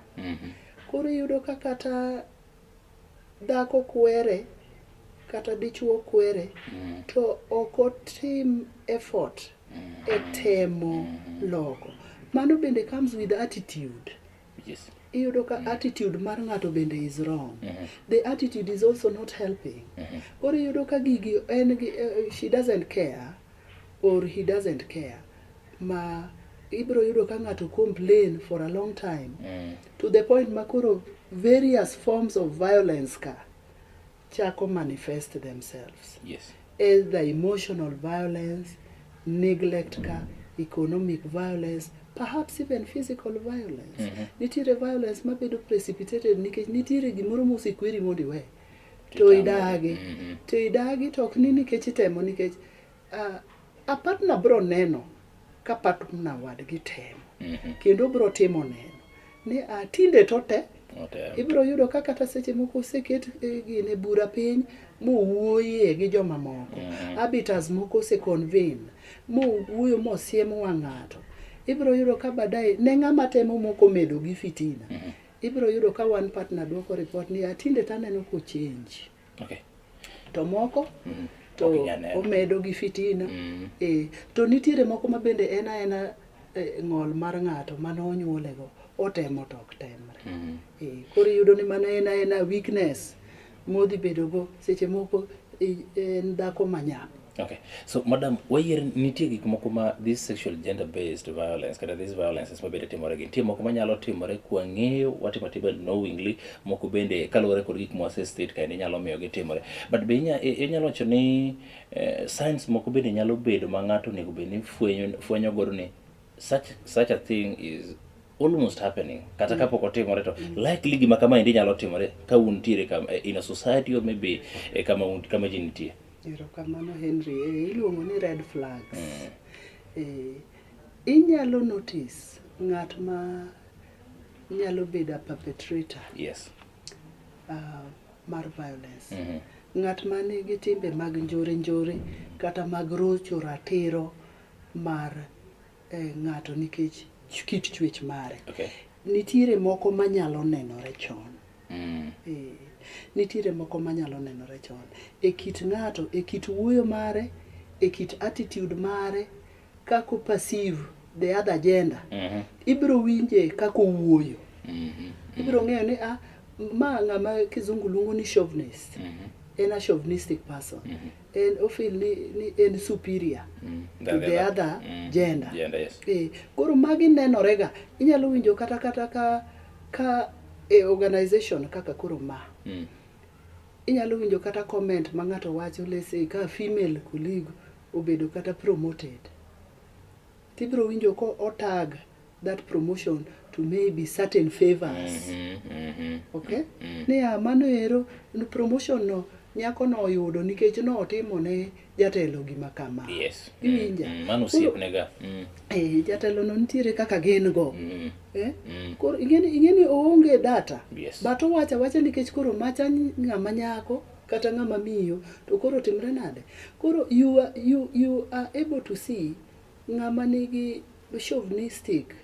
Koro iyudo ka kata dhako kwere kata dichuo kwere to ok otim effort e temo loko. Mano bende comes with attitude. Yes. Iyudo ka attitude mar ng'ato bende is wrong. The attitude is also not helping. Koro iyudo ka gigi en gi, eh, she doesn't care. or he doesn't care ma ibiro yudo ka ng'ato complain for a long time mm. to the point ma koro various forms of violence ka chako manifest themselves yes. either emotional violence neglect ka economic violence perhaps even physical violence mm -hmm. nitiere violence mabedo precipitated nikech nitiere gimoro mosekweri mondo iwe to Kitambo. idagi Mhm. to idagi to ok ni nikech itemo nikech ah, a partner bro neno ka partner wadgi temo Mhm. kendo bro timo neno ni ah, tinde to te Otem. ibro yudo ka kata seche moko oseket eh, gine bura piny mowuoye gi jomamoko Mhm. habitas moko oseconvene mowuoyo mosiem wang' ng'ato ibro yudo ka baadaye ne ng'ama temo moko medo gi fitina Ibiro yudo ka one partner dwoko report ni atinde to aneno ko change. Okay. To moko mm. to okay, yeah, omedo gi fitina. Mm. E, to nitiere moko ma bende en aena e, ng'ol mar ng'ato mane onyuolego otemo to ok temre. Mm. E, koro iyudo ni mana en aena weakness. modhi bedogo seche moko i- en dhako manyap Okay. So, madam, wayier nitie gik moko ma this sexual gender based violence kata these violences ma bende timore gi nitie moko ma nyalo timore kwa ng'eyo watimo atima knowingly moko bende kaluwore kod gik mwase state kae ni nyalo miyo gitimore but be inya- i- inyalo wacho ni eh, science moko bende nyalo bedo ma ng'ato onego bed ni fwenyo fwenyo godo ni such, such a thing is almost happening kata kapok otimore to likely gima kama endi nyalo timore ka un tiere kam, eh, in a society or maybe eh, kama, un- kama ji nitie erokamano henry eh, iluongo ni red flags eh, inyalo notice ng'at ma nyalo bedo a perpetrator yes uh, mar violence Mhm. ng'at ma nigi timbe mag njore njore kata mag rocho ratiro mar eh, ng'ato nikech ch- kit chwech mare Okay. nitiere moko manyalo nenore chon Mm. Eh, nitiere moko manyalo nenore chon e kit ng'ato e kit wuoyo mare e kit attitude mare kako perceive the other gender Mhm. ibiro winje kako wuoyo Mhm. ibiro ng'eyo ni ah, ma ng'ama kizungu luongo ni chauvinist Mhm. en a chauvinistic person en ofil ni, ni en superior Mm, to than the the other. other Mm, gender. gender, yes. Eh, koro magi nenorega inyalo winjo kata kata ka ka e organization kaka koro ma Mm. inyalo winjo kata comment ma ng'ato wacho lese ka female colleague obedo kata promoted tibiro winjo ko otag that promotion to maybe certain favors okay niya mano ero n- promotion no nyako no oyudo nikech notimo ne jatelo gima kama yes Mm, iwinja mm, mano Koro, osiepnega Mm, eh, jatelo no nitiere kaka gin go mm, eh? mm. koro ing'eni ing'eni oonge data Yes. but owacha wacha nikech koro macha ny- ng'ama nyako kata ng'ama miyo to koro timre nade koro you are, you, you are able to see Ng'ama nigi chauvinistic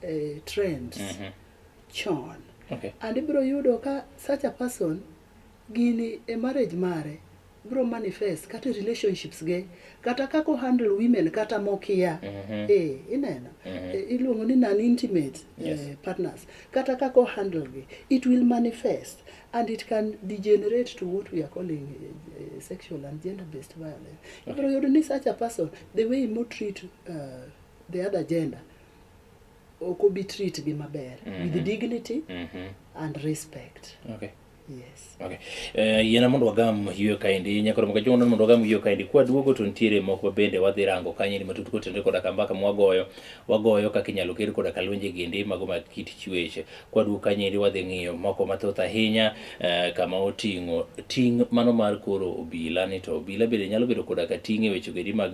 eh, trends Mhm. chon Okay. and ibiro yudo ka such a person gini e marriage mare biro manifest kata e relationships ge kata kaka ohandle women kata mokia Mhm. eh, ineno Mhm. Eh, iluongo ni non intimate Yes. eh, partners kata kaka ohandle gi it will manifest and it can degenerate to what we are calling eh, eh, sexual and gender based violence ibiro yudo ni such a person the way mo treat uh, the other gender ok obi treat gi maber mm -hmm. with dignity mm -hmm. and respect okay Yes. Okay. Uh, yiena mondo wagam yweyo kaendi nyakoro maka jogo mondo wagam yweyo kaendi kwa duogo to nitiere moko bende wadhi rango kanyo ni matut kotenore koda ka mbaka mwagoyo wagoyo kaka inyalo ger koda ka lwenje gindi mago mag kit chweche Kwaduog ka nyiri wadhi ng'iyo moko mathoth ahinya kama oting'o ting' mano mar koro obila ni to obila bende nyalo bedo koda ka ting' e weche goendi mag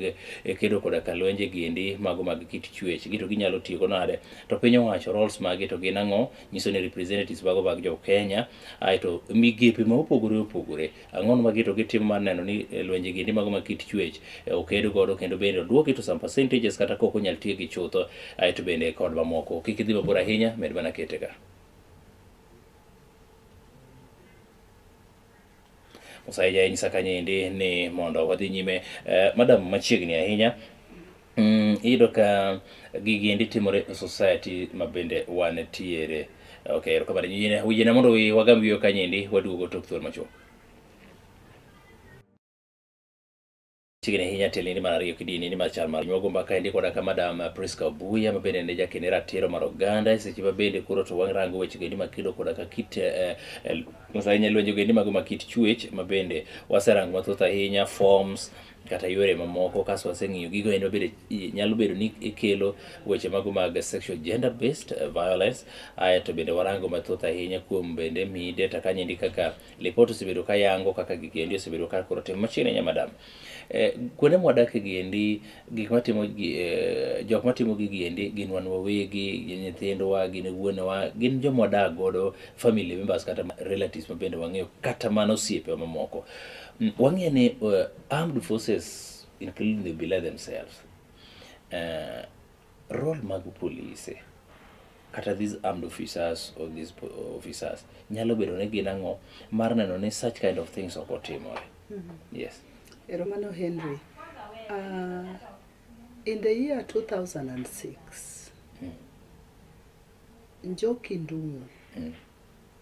kedo koda ka lwenje giendi mago mag kit chwech gi to ginyalo tiyo go nade to piny owacho roles magi to gin ang'o nyiso ni representatives mago mag jo Kenya aeto migepe ma opogore opogore Ang'ono ma gito gitimo mar neno ni eh, lwenje gindi mago ma kit chwech eh, oked godo kendo bende oduoki to some percentages kata kok onyal tiegi chutho aeto bende kod mamoko. Kik idhi mabor ahinya, med mana kete ka. Musaija inyisa kanyendi ni mondo wadhi nyime. Eh, madam machiegni ahinya Mm, iyudo ka gigi endi timore e society ma bende wan tiere. Okay, erokamano. Yine- Wijena mondo wi- wagam wiyo kanyo endi waduogo tok thuol machuok. Chiegni ahinya tiel endi mar ariyo kidieny endi mar chal mar piny. Wago mbaka endi koda ka Madam Priska Obuya ma bende ne jakene ratiro mar oganda e seche ma bende koro to warango weche endi mag kido koda ka kit eh, eh, mos ahinya lwenje endi mago ma kit chuech ma bende waserango mathoth ahinya forms kata yore mamoko kaso waseng'iyo gigo en wabedo nyalo bedo ni ikelo weche mago mag sexual gender based eh, violence ae to bende warango mathoth ahinya kuom bende mi data kanyendi kaka lipot osebedo ka yango kaka gigiendi osebedo ka koro tim machiegni nya madam eh, kuonde mwadakie giendi gik matimo eh, jok matimo gigiendi gin wan wawegi gin nyithindwa gin wuonewa gin joma wadak godo family members kata relatives mabende wang'eyo kata mana osiepewa mamoko Wang'eyo ni uh, armed forces including the bila themselves uh, role mag polise kata these armed officers or these po- officers nyalo bedo ni gin ang'o mar neno ni such kind of things ok otimore yes Eromano Henry. Uh, in the year 2006, Njoki Ndung'u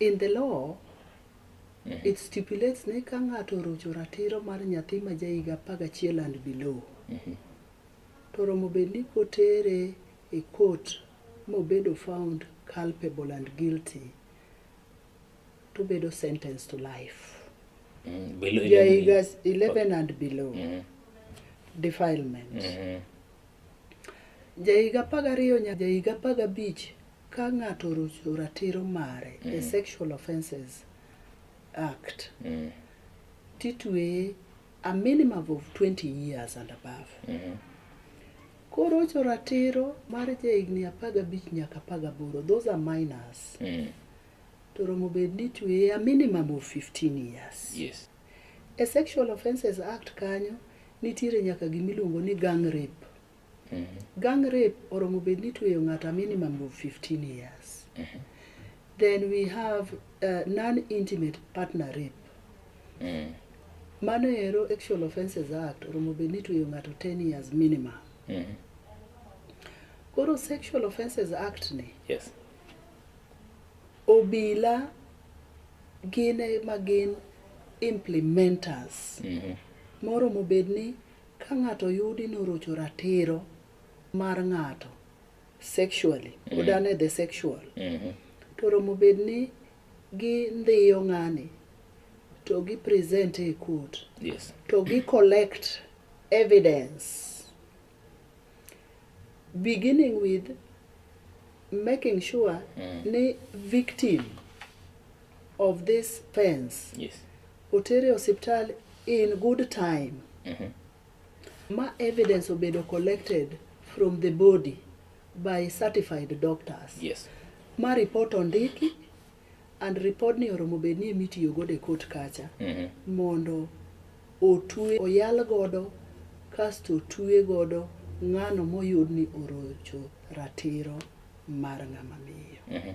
In the law, it stipulates ni ka ng'ato orocho ratiro mar nyathi ma ja higa apar gachiel and below, to oromo bed ni kotere e court mobedo found culpable and guilty, to obedo sentenced to life. Mm, below Ja 11 higa years. 11 and below, Mhm, defilement. mhm. Ja higa apar gariyo nyaka ja higa apar gabich Ka ng'ato orucho ratiro mare e Sexual Offences Act, titweye a minimum of 20 years and above. Korocho ratiro mar jahigni apar gabich nyaka apar gaboro, those are minors, to romo bed ni itweye a minimum of 15 years. Yes. E Sexual Offences Act kanyo nitiere nyaka gimiluongo ni gang rape. Gang rape oromo bed ni tweyo ng'ato a minimum of 15 years. Then we have uh, non-intimate partner rape. Mano ero Sexual Offences Act oromo bed ni tweyo ng'ato 10 years minimum. Koro Sexual Offences Act ni Yes. obila gin ema gin implementers moromo bed ni Ka ng'ato oyudi norocho ratiro mar ng'ato sexually, odane the sexual, to oromo bed ni gindhiyo ng'ani to gi present e court Yes. to gi collect evidence beginning with making sure ni victim of this fence Yes. otere osiptal in good time Mhm. ma evidence obedo collected from the body by certified doctors Yes. ma report ondiki and report ni oromo bed ni emitiyo godo e court kacha Mhm. mondo otwe oyal godo kasto otwe godo ng'ano moyud ni orocho ratiro mar ng'ama miyo Mhm.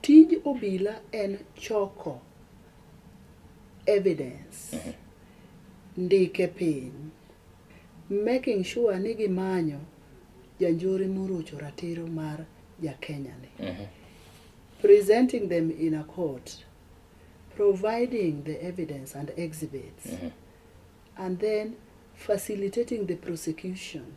Tij obila en choko evidence, ndike piny, making sure ni gimanyo janjore morocho ratiro mar Jakenya ni. Presenting them in a court, providing the evidence and exhibits, and then facilitating the prosecution.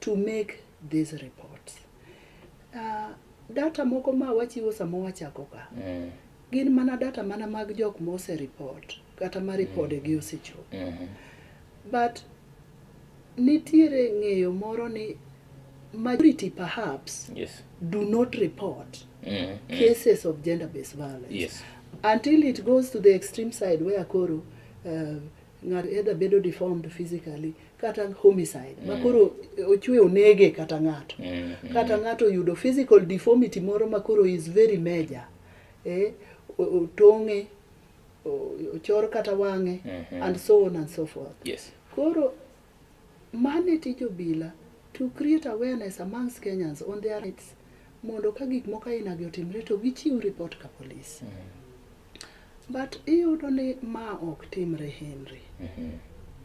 to make these reports. Uh, data moko ma wachiwo sama wachako ka mm. gin mana data mana mag jok ma osereport kata ma ripode gi osechopo mm -hmm. but nitiere ng'eyo moro ni majority perhaps yes. do not report mm -hmm. cases of gender based violence yes. until it goes to the extreme side where koro uh, ng'ato either bedo deformed physically kata homicide mm. makoro ochwe onege kata ng'ato mm. mm. kata ng'ato oyudo physical deformity moro makoro is very major eh, otong'e ochor kata wang'e mm -hmm. and so on and so forth yes. koro mane tij obila to create awareness amongst kenyans on their rights mondo ka gik moko ainagi otimre to gichiw report ka police mm -hmm. But iyudo ni ma ok timre Henry.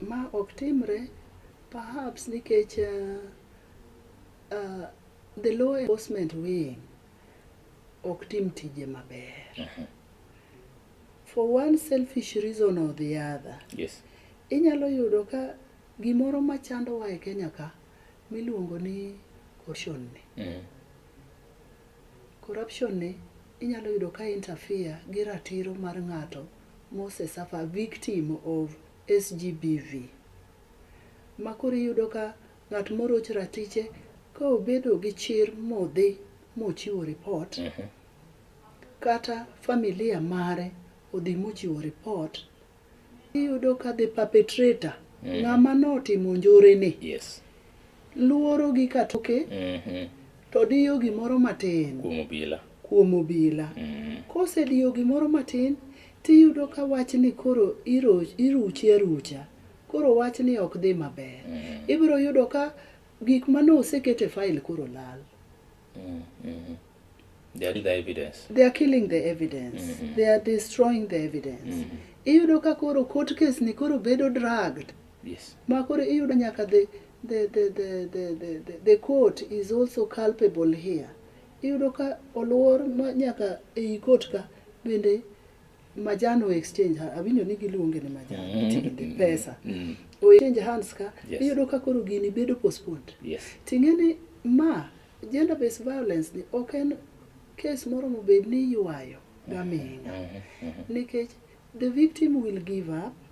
Ma ok timre perhaps nikech uh, uh, the law enforcement wing ok tim tije maber. For one selfish reason or the other. Yes. Inyalo yudo ka gimoro ma chandowa e Kenya ka miluongo ni corruption ni. Mm. Corruption ni Inyalo yudo ka interfere gi ratiro mar ng'ato mose suffer victim of SGBV. Ma koro iyudo ka ng'at moroch ratiche ka obedo gi chir modhi mochiwo report, kata familia mare odhi mochiwo report, Iyudo ka the perpetrator, mm. ng'ama notimo njore ni. Yes. Luoro gi katoke. Mm -hmm. To diyo gimoro matin. Kuom obila. Kuom obila. Mm -hmm. Kose diyo gimoro matin, tiyudo ka wach ni koro iruchi arucha. Koro wach ni ok dhi maber. Mm -hmm. Ibiro yudo ka gik mane osekete fail koro lal. Mm -hmm. They are killing the evidence. They are killing the evidence. Mm -hmm. They are destroying the evidence. Mm -hmm. Iyudo ka koro court case ni koro bedo dragged. Yes. Ma koro iyudo nyaka the the the the the the, the, the court is also culpable here. Iyudo ka oluor nyaka ei court ka bende majan o exchange ha- awinjo ni giluonge ni majan Mm. tinde pesa Mm. o exchange hands ka Yes. iyudo ka koro gini bedo postponed Yes. ting'e ni ma gender based violence ni ok en kes moro mobed ni ywayo gaming'a Mhm. Mhm. nikech the victim will give up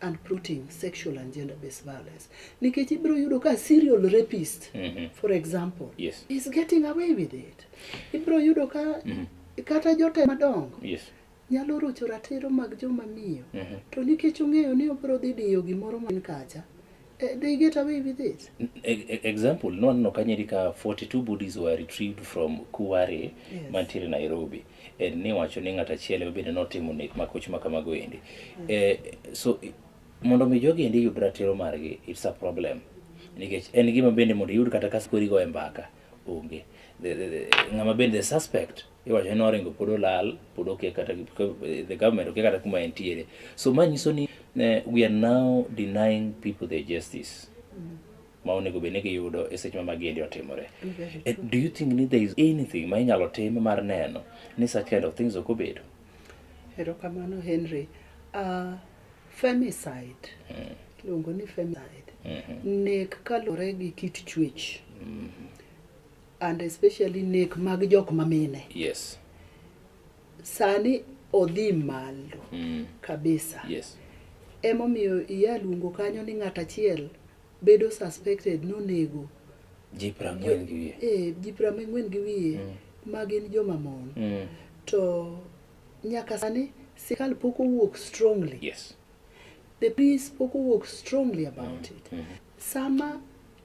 and plotting sexual and gender based violence nikech ibiro yudo ka serial rapist mm -hmm. for example yes. is getting away with it ibiro yudo ka mm -hmm. kata jote madongo yes. nyalo rocho ratiro mag joma miyo mm -hmm. to nikech ong'eyo ni obiro dhi diyo gimoro man kacha Uh, they get away with it. E, e example, no no kanyeri ka 42 bodies were retrieved from Kuware yes. mantiere Nairobi. And ni wacho ni ng'ata chiele obende notimo nek makoch makamago endi. Mm. Eh, so mondo mi jogi endi yud ratiro margi it's a problem. Nikech en gima bende mondo yud kata kaskori go e mbaka onge. Ng'ama bende the suspect iwacho ni oringo pod olal pod okia kata the government okia kata kuma entiere so ma nyiso ni eh, we are now denying people their justice ma onego bed ni giyudo e seche ma magiendi otimore Eh, do you think ni there is anything ma inyalo tim mar neno ni such kind of things ok obedo erokamano henry uh, femicide iluongo ni femicide nek kaluwore gi kit chuech and especially nek mag jok mamine yes sani odhi malo mm. kabisa yes emomiyo iya luongo kanyo ni ng'at achiel bedo suspected nonego ji prang'wen gi wiye eh, ji prang'wen gi wiye mm. ma gin joma mon mm. to nyaka sani sirkal pok owuok strongly yes the police pok owuok strongly about mm. it mm. sama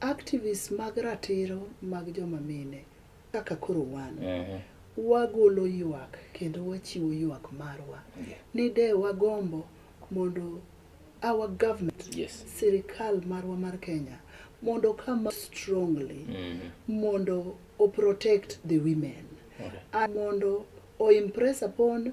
Activists mag ratiro mag joma mine kaka koro wan, wagolo ywak kendo wachiwo ywak marwa ni de wagombo mondo our government, sirikal marwa mar Kenya mondo oka ma strongly mondo o protect the women and mondo o impress upon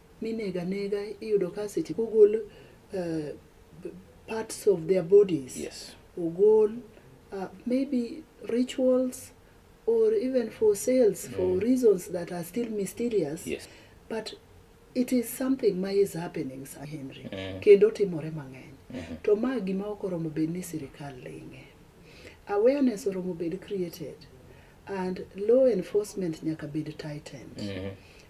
minego anega iyudo ka seche kogol uh, parts of their bodies yes. ogol uh, maybe rituals or even for sales mm. for reasons that are still mysterious yes. but it is something ma is happening sa henry mm. kendo timore mang'eny mm -hmm. to ma gima ok oromo bed ni sirikal ling'e awareness oromo bed created and law enforcement nyaka bed tightened mm -hmm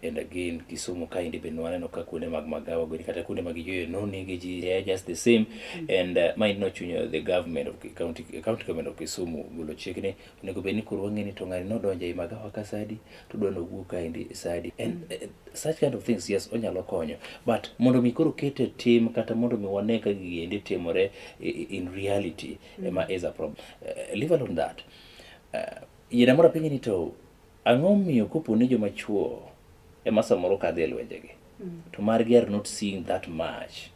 And again, Kisumu kaendi be nwaneno ka kuonde mag magawa gweni kata kuonde mag yweyo nonege ji they are just the same and uh, ma ino chunyo the government of Ki- county, county government of Kisumu golo chik ni onego bed ni koro wang'e ni to ng'ani nodonjo ei magawa ka sadi to dwa nowuok kaendi sadi and uh, such kind of things yes onyalo konyo but mondo mi koro kete tim kata mondo mi wane ka gigi endi timore i- i- in reality ema is a problem uh, leave alone that uh, yena mora penye ni to Ang'o omiyo kopo ni joma chwo ema samoro kadho e lwenjegi to margi are not seeing that much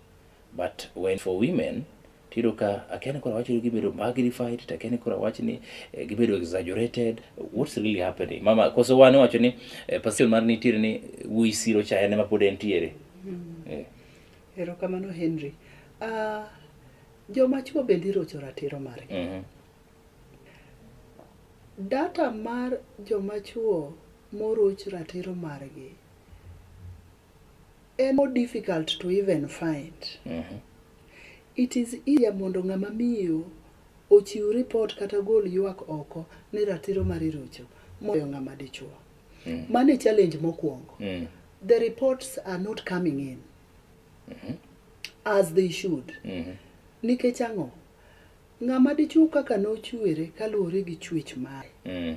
but when for women tiyudo ka akia ni koro awach ni gibedo magnified to akia ni koro awach ni eh, gibedo exaggerated what's really happening mama koso wan iwacho ni eh, passion mar nitiere ni eh, wuyi siro cha en ema pod entiere Eh, Erokamano Henry. Ah, joma chwo bende irocho ratiro margi. mhm. Data mar joma chuo moruch ratiro margi en more difficult to even find. It is easier mondo ng'ama miyo ochiw report kata gol ywak oko ni ratiro mari rucho moloyo ng'ama dichuo. Mano e challenge mokwongo. The reports are not coming in as they should. Nikech ang'o? Ng'ama dichwo kaka nochwere kaluwore gi chwech mare, Mm.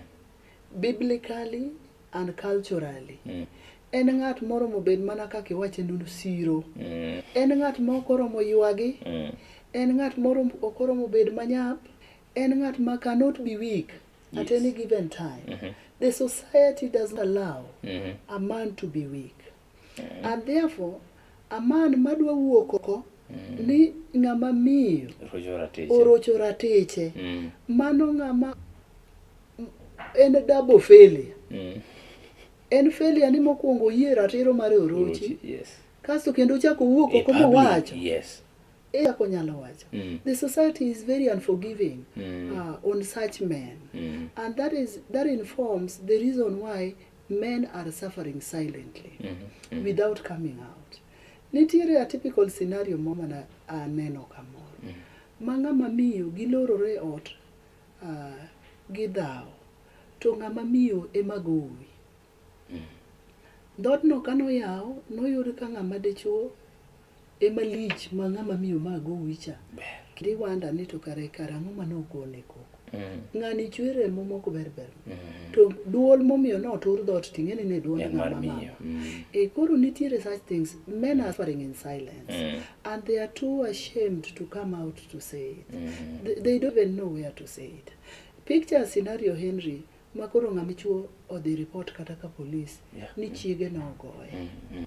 biblically and culturally, Mm. en ng'at moromo bed mana kaka iwache nunu siro. Mm. En ng'at ma ok oromo ywagi, Mm. en ng'at moro ok oromo bed manyap, en ng'at ma cannot be weak at Yes. any given time. The society does not allow Mhm. a man to be weak. Mm. And therefore, a man madwa wuok oko mm. ni ng'ama miyo orocho ratiche. Mm. Mano ng'ama en double failure. Mm. En failure ni mokwongo oyie ratiro mar orochi. Yes. Kasto kendo chako wuok oko mowacho. Yes. Echako nyalo wacho. Mm. The society is very unforgiving mm. uh, on such men. Mm. And that is that informs the reason why men are suffering silently mm -hmm. without coming out nitiere a typical scenario mo mana aneno kamoro mm -hmm. ma ng'ama miyo gilorore ot uh, gidhawo to ng'ama miyo ema gowi mm -hmm. dhodno kanoyaw noyud ka ng'ama dichuo Ema lich ma ng'ama miyo ma gowi cha. Kendo iwanda ni to kare kare ang'o ma nogone koko. Mm. Ng'ani chwe remo moko ber ber. Mm. To duol momiyo ne otur dhoot to ing'eni ne duol En mar ng'ama miyo. mama. Mm. E koro nitiere such things. Men are suffering in silence. Mm. And they are too ashamed to come out to say it. Mm. They, they don't even know where to say it. Picture scenario Henry ma koro ng'a dichuo odhi report kata ka polis Yeah. ni chiege ne ogoye Mm, mm,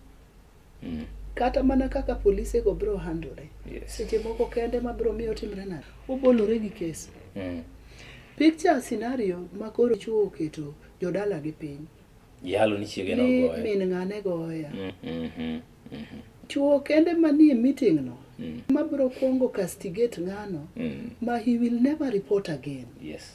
mm. kata mana kaka polise go biro handore Yes. seche moko kende ma biro miyo timre nade obolore gi kes Mm. picture scenario ma koro chuo oketo jodala gi piny Yalo ni chiege ni nogoye. min ng'ane goya Mm, mm, mm, mm, chuo kende manie meeting no mm, ma biro kwongo castigate ng'ano mm. ma he will never report again Yes.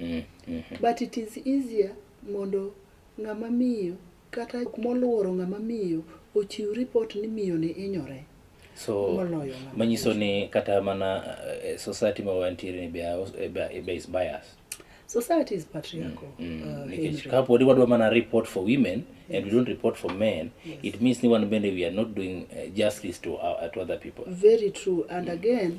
Mm, mm. but it is easier mondo ng'ama miyo kata jok moluoro ng'ama miyo ochiw ripot ni miyo ni inyore so Moloyo ng'ama manyiso ni kata mana eh, society ma wantiere ni be are also- eh, be- be is biased society is patriarchal Mm, uh, nikech Henry. kapodi wadwa mana report for women and we don't report for men it means ni wan bende we are not doing eh, justice to, our, to other people very true and again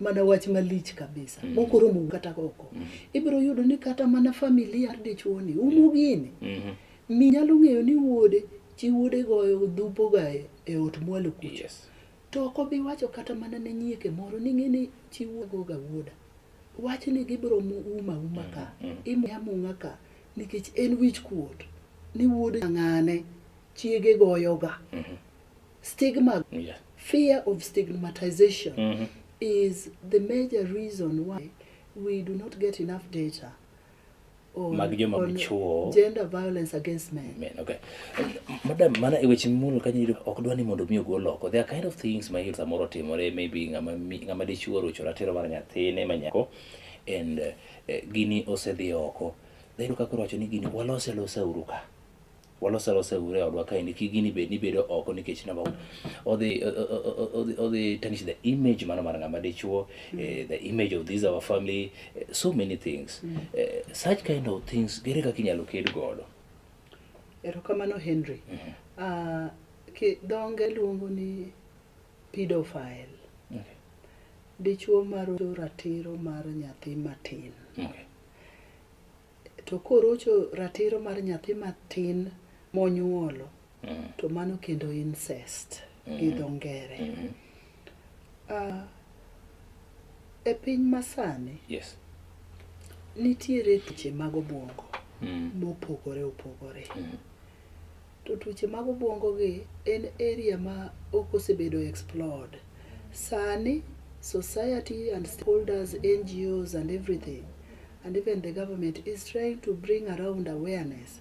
mana wach malich kabisa mm. mokoromo kata oko mm. ibiro yudo ni kata mana familia mar dichuoni umo gini mm -hmm. mi nyalo ng'eyo ni wuode chi wuode goyo dhupoga e, e ot mwalo kucha yes. to ok obi wacho kata mana ne nyieke moro ni ng'e ni chi wuogoga wuoda wach ni gibiro uma uma ka mm -hmm. imya mung'a ka nikech en wich kuot ni wuode ng'ane chiege goyoga mm -hmm. Stigma, Yeah. fear of stigmatization Mhm. is the major reason why we do not get enough data on, Mag joma on dichwo. gender violence against men. Men, okay. Madam, mana e weche mimulo kanyo iyudo ok dwa ni mondo mi ogol oko. There are kind of things ma iyudo samoro timore maybe ng'ama mi- ng'ama dichuo rocho ratiro mar nyathine ma nyako and eh, eh, gini osedhi oko. Dhayudo ka koro wacho ni gini walose losa uru ka. Walose alose ure e odwa kaendi kik gini bed ni bedo oko nikech number one odhi o- o- o- o- odhi odhi tarnish the image mano mar ng'ama dichuo eh, the image of this our family eh, so many things Eh, such kind of things gere kaka inyalo ked godo erokamano henry Ah, ki- dhonge luongo ni pedophile Okay. dichuo marocho ratiro mar nyathi matin Okay. To korocho ratiro mar nyathi matin monyuolo, to mano kendo incest gi dho ngere. Ah, e piny masani, Yes. nitiere tuoche mag obuongo Mm. mopogore opogore. To tuoche mag obuongo gi en area ma ok osebedo explored. Sani society and stakeholders, NGOs and everything and even the government is trying to bring around awareness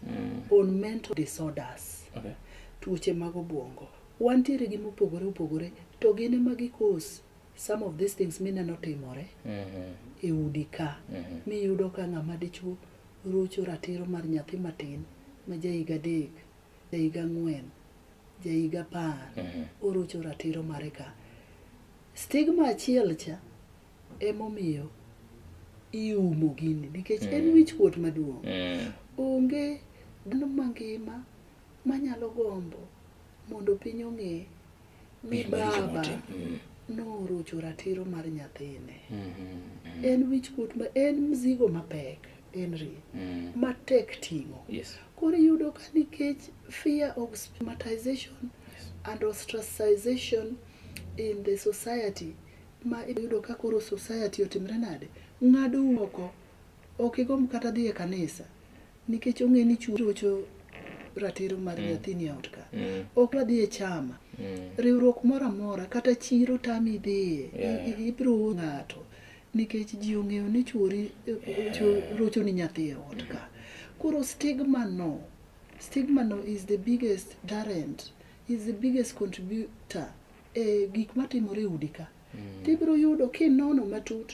on mental disorders. Okay. tuoche mag obuongo wantiere gi mopogore opogore to gin ema gikos some of these things mineno timore e udi ka miyudo ka ng'ama dichuo rocho ratiro mar nyathi matin ma ja higa adek, ja higa ang'wen, ja higa apar, orocho ratiro mare ka. Stigma achiel cha emomiyo iumo gini nikech en wichkuot maduong'. Mm. Onge dhano mangima manyalo gombo mondo piny ong'e Mi baba mm. norucho ratiro mar nyathine. Mm-hmm. En wichkuot ma en mzigo mapek, Henry, mm. matek ting'o. Yes. Koro iyudo ka nikech fear of stigmatization yes. and ostracization in the society ma iyudo ka koro society otimre nade, ng'ado oko, ok igomb kata dhi e kanisa. nikech ong'e ni chuo rocho ratiro mar nyathini e ot ka Mm. ok wadhi e chama Mm. riwruok moro amora kata chiro tami idhiye Yeah. i- ibiro wuo ng'ato nikech ji ong'eyo ni chuori cho- rocho ni nyathi e ot ka koro stigma no stigma no is the biggest darent is the biggest contributor e gik matimore e udi ka tibiro yudo kinono matut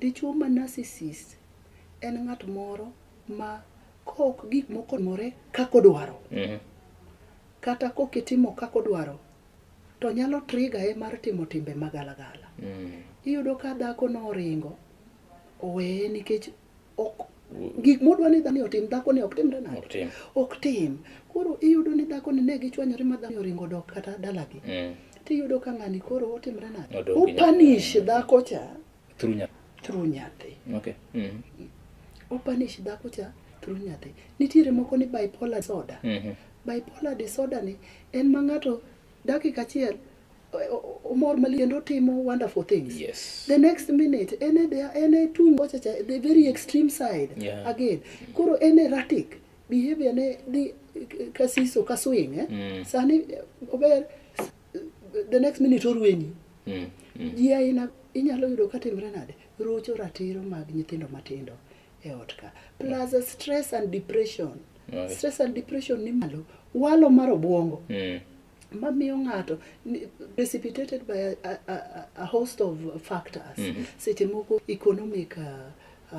Dichwo ma narcissist en ng'at moro ma kok gik moko more kaka odwaro. Mhm. Kata kok itimo kaka odwaro to nyalo trigger ye mar timo timbe magalagala. Mm. Iyudo ka dhako no oringo oweye nikech ok gik modwa ni dhani otim dhako ni ok timre nade Ok tim. ok tim koro iyudo ni dhako ni ne gichwanyore ma dhani oringo dok kata dalagi Mm. tiyudo ka ng'ani koro otimre nade Odok gi nyathi. opanish dhako cha Through nyathi. through nyathi Okay. Mm. opanish dhako cha through nyathi nitiere moko ni bipolar disorder Mhm. bipolar disorder ni en ma ng'ato dakika achiel omor maliendo timo wonderful things yes. the next minute ene they are ene tung wachacha the very extreme side yeah. again koro ene erratic behavior ne dhi kasiso ka swing eh? mm. sani ober the next minute orwenyi mm. mm. ji aina inyalo yudo ka timre nade rocho ratiro mag nyithindo matindo e ot ka plus mm. stress and depression right. stress and depression ni malo walo mar obwongo mm. mamiyo ng'ato ni- precipitated by a, a, a, a host of factors Mhm. seche moko economic uh, uh,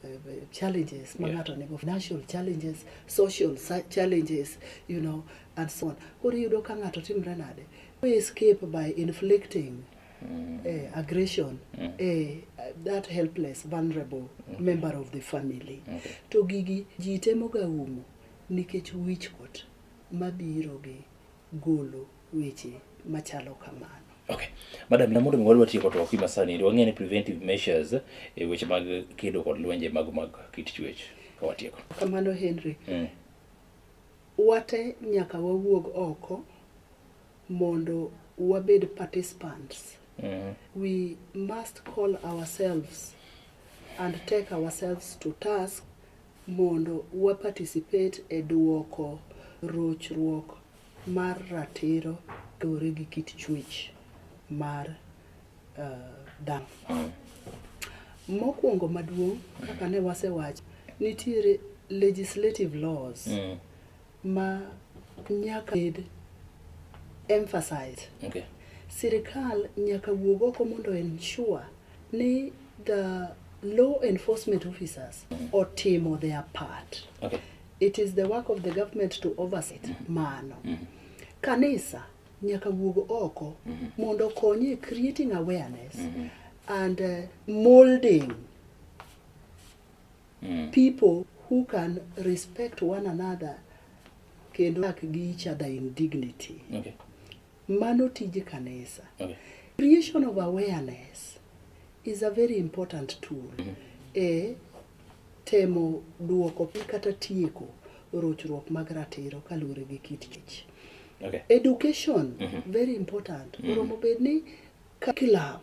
uh, challenges ma Yeah. ng'ato nigo financial challenges social sa- challenges you know and so on koro iyudo ka ng'ato timre nade we escape by inflicting eh, aggression eh, that helpless vulnerable member of the family Okay. to gigi ji temoga umo nikech wichkuot mabiro gi golo weche machalo kamano. Okay. Madam, na mondo mi wadwa tieko to okima sani, to wang'e ni preventive measures e weche mag kedo kod lwenje mag mag kit chuech ka watieko. Kamano Henry. Mm. Wate nyaka wawuog oko mondo wabed participants. Mm. We must call ourselves and take ourselves to task mondo wa participate e duoko rochruok mar ratiro luwore gi kit chwech mar uh, dhano. Mokwongo maduong' kaka ne wasewacho, nitiere legislative laws mm. ma nyaka bed emphasized. Okay. Sirikal nyaka wuog oko mondo ensure ni the law enforcement officers otimo their part. Okay. It is the work of the government to oversee mano. Kanisa nyaka wuog oko mondo okonye e creating awareness and uh, molding people who can respect one another kendo work gi each other in dignity. Okay. Mano tij kanisa. Okay. Creation of awareness is a very important tool e temo duoko piny kata tieko rochruok mag ratiro kaluwore gi kit kich. Okay. Education very important. Oromo bed ni curriculum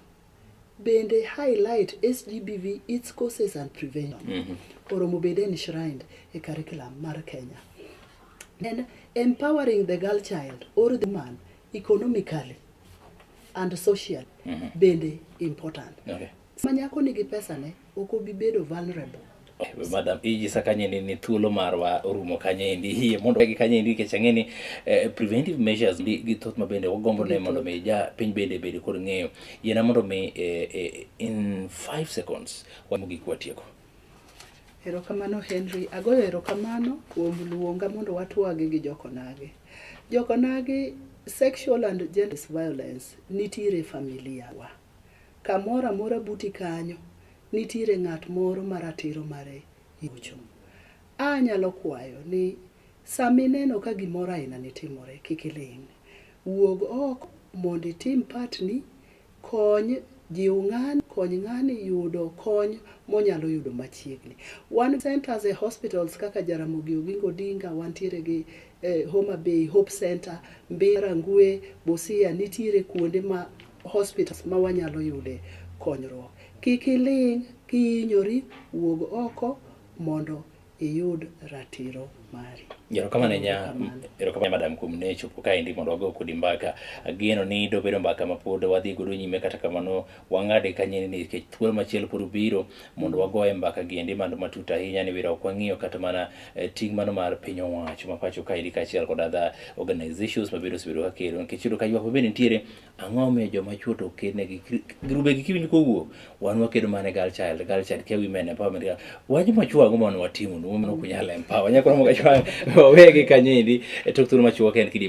bende highlight SGBV, its causes and prevention. Oromo bende enshrined e curriculum mar Kenya. Then empowering the girl child or the man economically and socially bende important. Okay. Sama nyako nigi pesane ok obi bedo vulnerable. Eh, madam ijisa kanye ni, ni thuolo marwa orumo kanye endi hie mondo gi kanye endi nikech ang'e ni eh, preventive measures gi, gi thoth ma bende wagombo ne mondo mi ja piny bende bede kod ng'eyo yiena mondo mi eh, eh, in five seconds wamogik watieko erokamano henry agoyo erokamano kuom luonga mondo watwage gi jokonage jokonage sexual and gender violence nitiere familia wa Kamoro amora buti kanyo nitiere ng'at moro ma ratiro mare yocho. A nyalo kwayo ni sama ineno ka gimoro aina ni timore kik iling'. Wuog oko mondo itim part ni, kony, jiw ng'ani, kony ng'ani yudo kony monyalo yudo machiegni. Wan centers e hospitals kaka Jaramogi Oginga Odinga, wantiere gi Homa Bay Hope Center, Mbera, Rangwe, Busia nitiere kuonde ma hospitals ma wanyalo yude konyruok. Kik iling' kihinyori, wuog oko mondo iyud ratiro mari. Erokamano ahinya Erokamano. erokamano madam kuom ne chopo kaendi mondo wago kodi mbaka. Ageno ni dobedo mbaka ma pod wadhi godo nyime kata kamano wang'ade kanyeni ni nikech thuolo machielo pod obiro mondo wagoye mbaka giendi mano matut ahinya ni wira ok wang'iyo kata mana eh, ting' mano mar piny owacho ma pacho kaendi kaachiel kod other organizations ma bende osebedo ka kelo nikech yudo ka ywak ma bende nitiere Ang'o momiyo joma chwo to okednegi? Grubegi kiwinjo kowuok, wan wakedo mana ne girl child, girl child, care women empowerment. girl- Wach ma chwo ang'o mondo watimo, women ok unyal empower. Nyako moro machwo wawegi kanyo endi, e tok thuolo ma chwo ok en kidi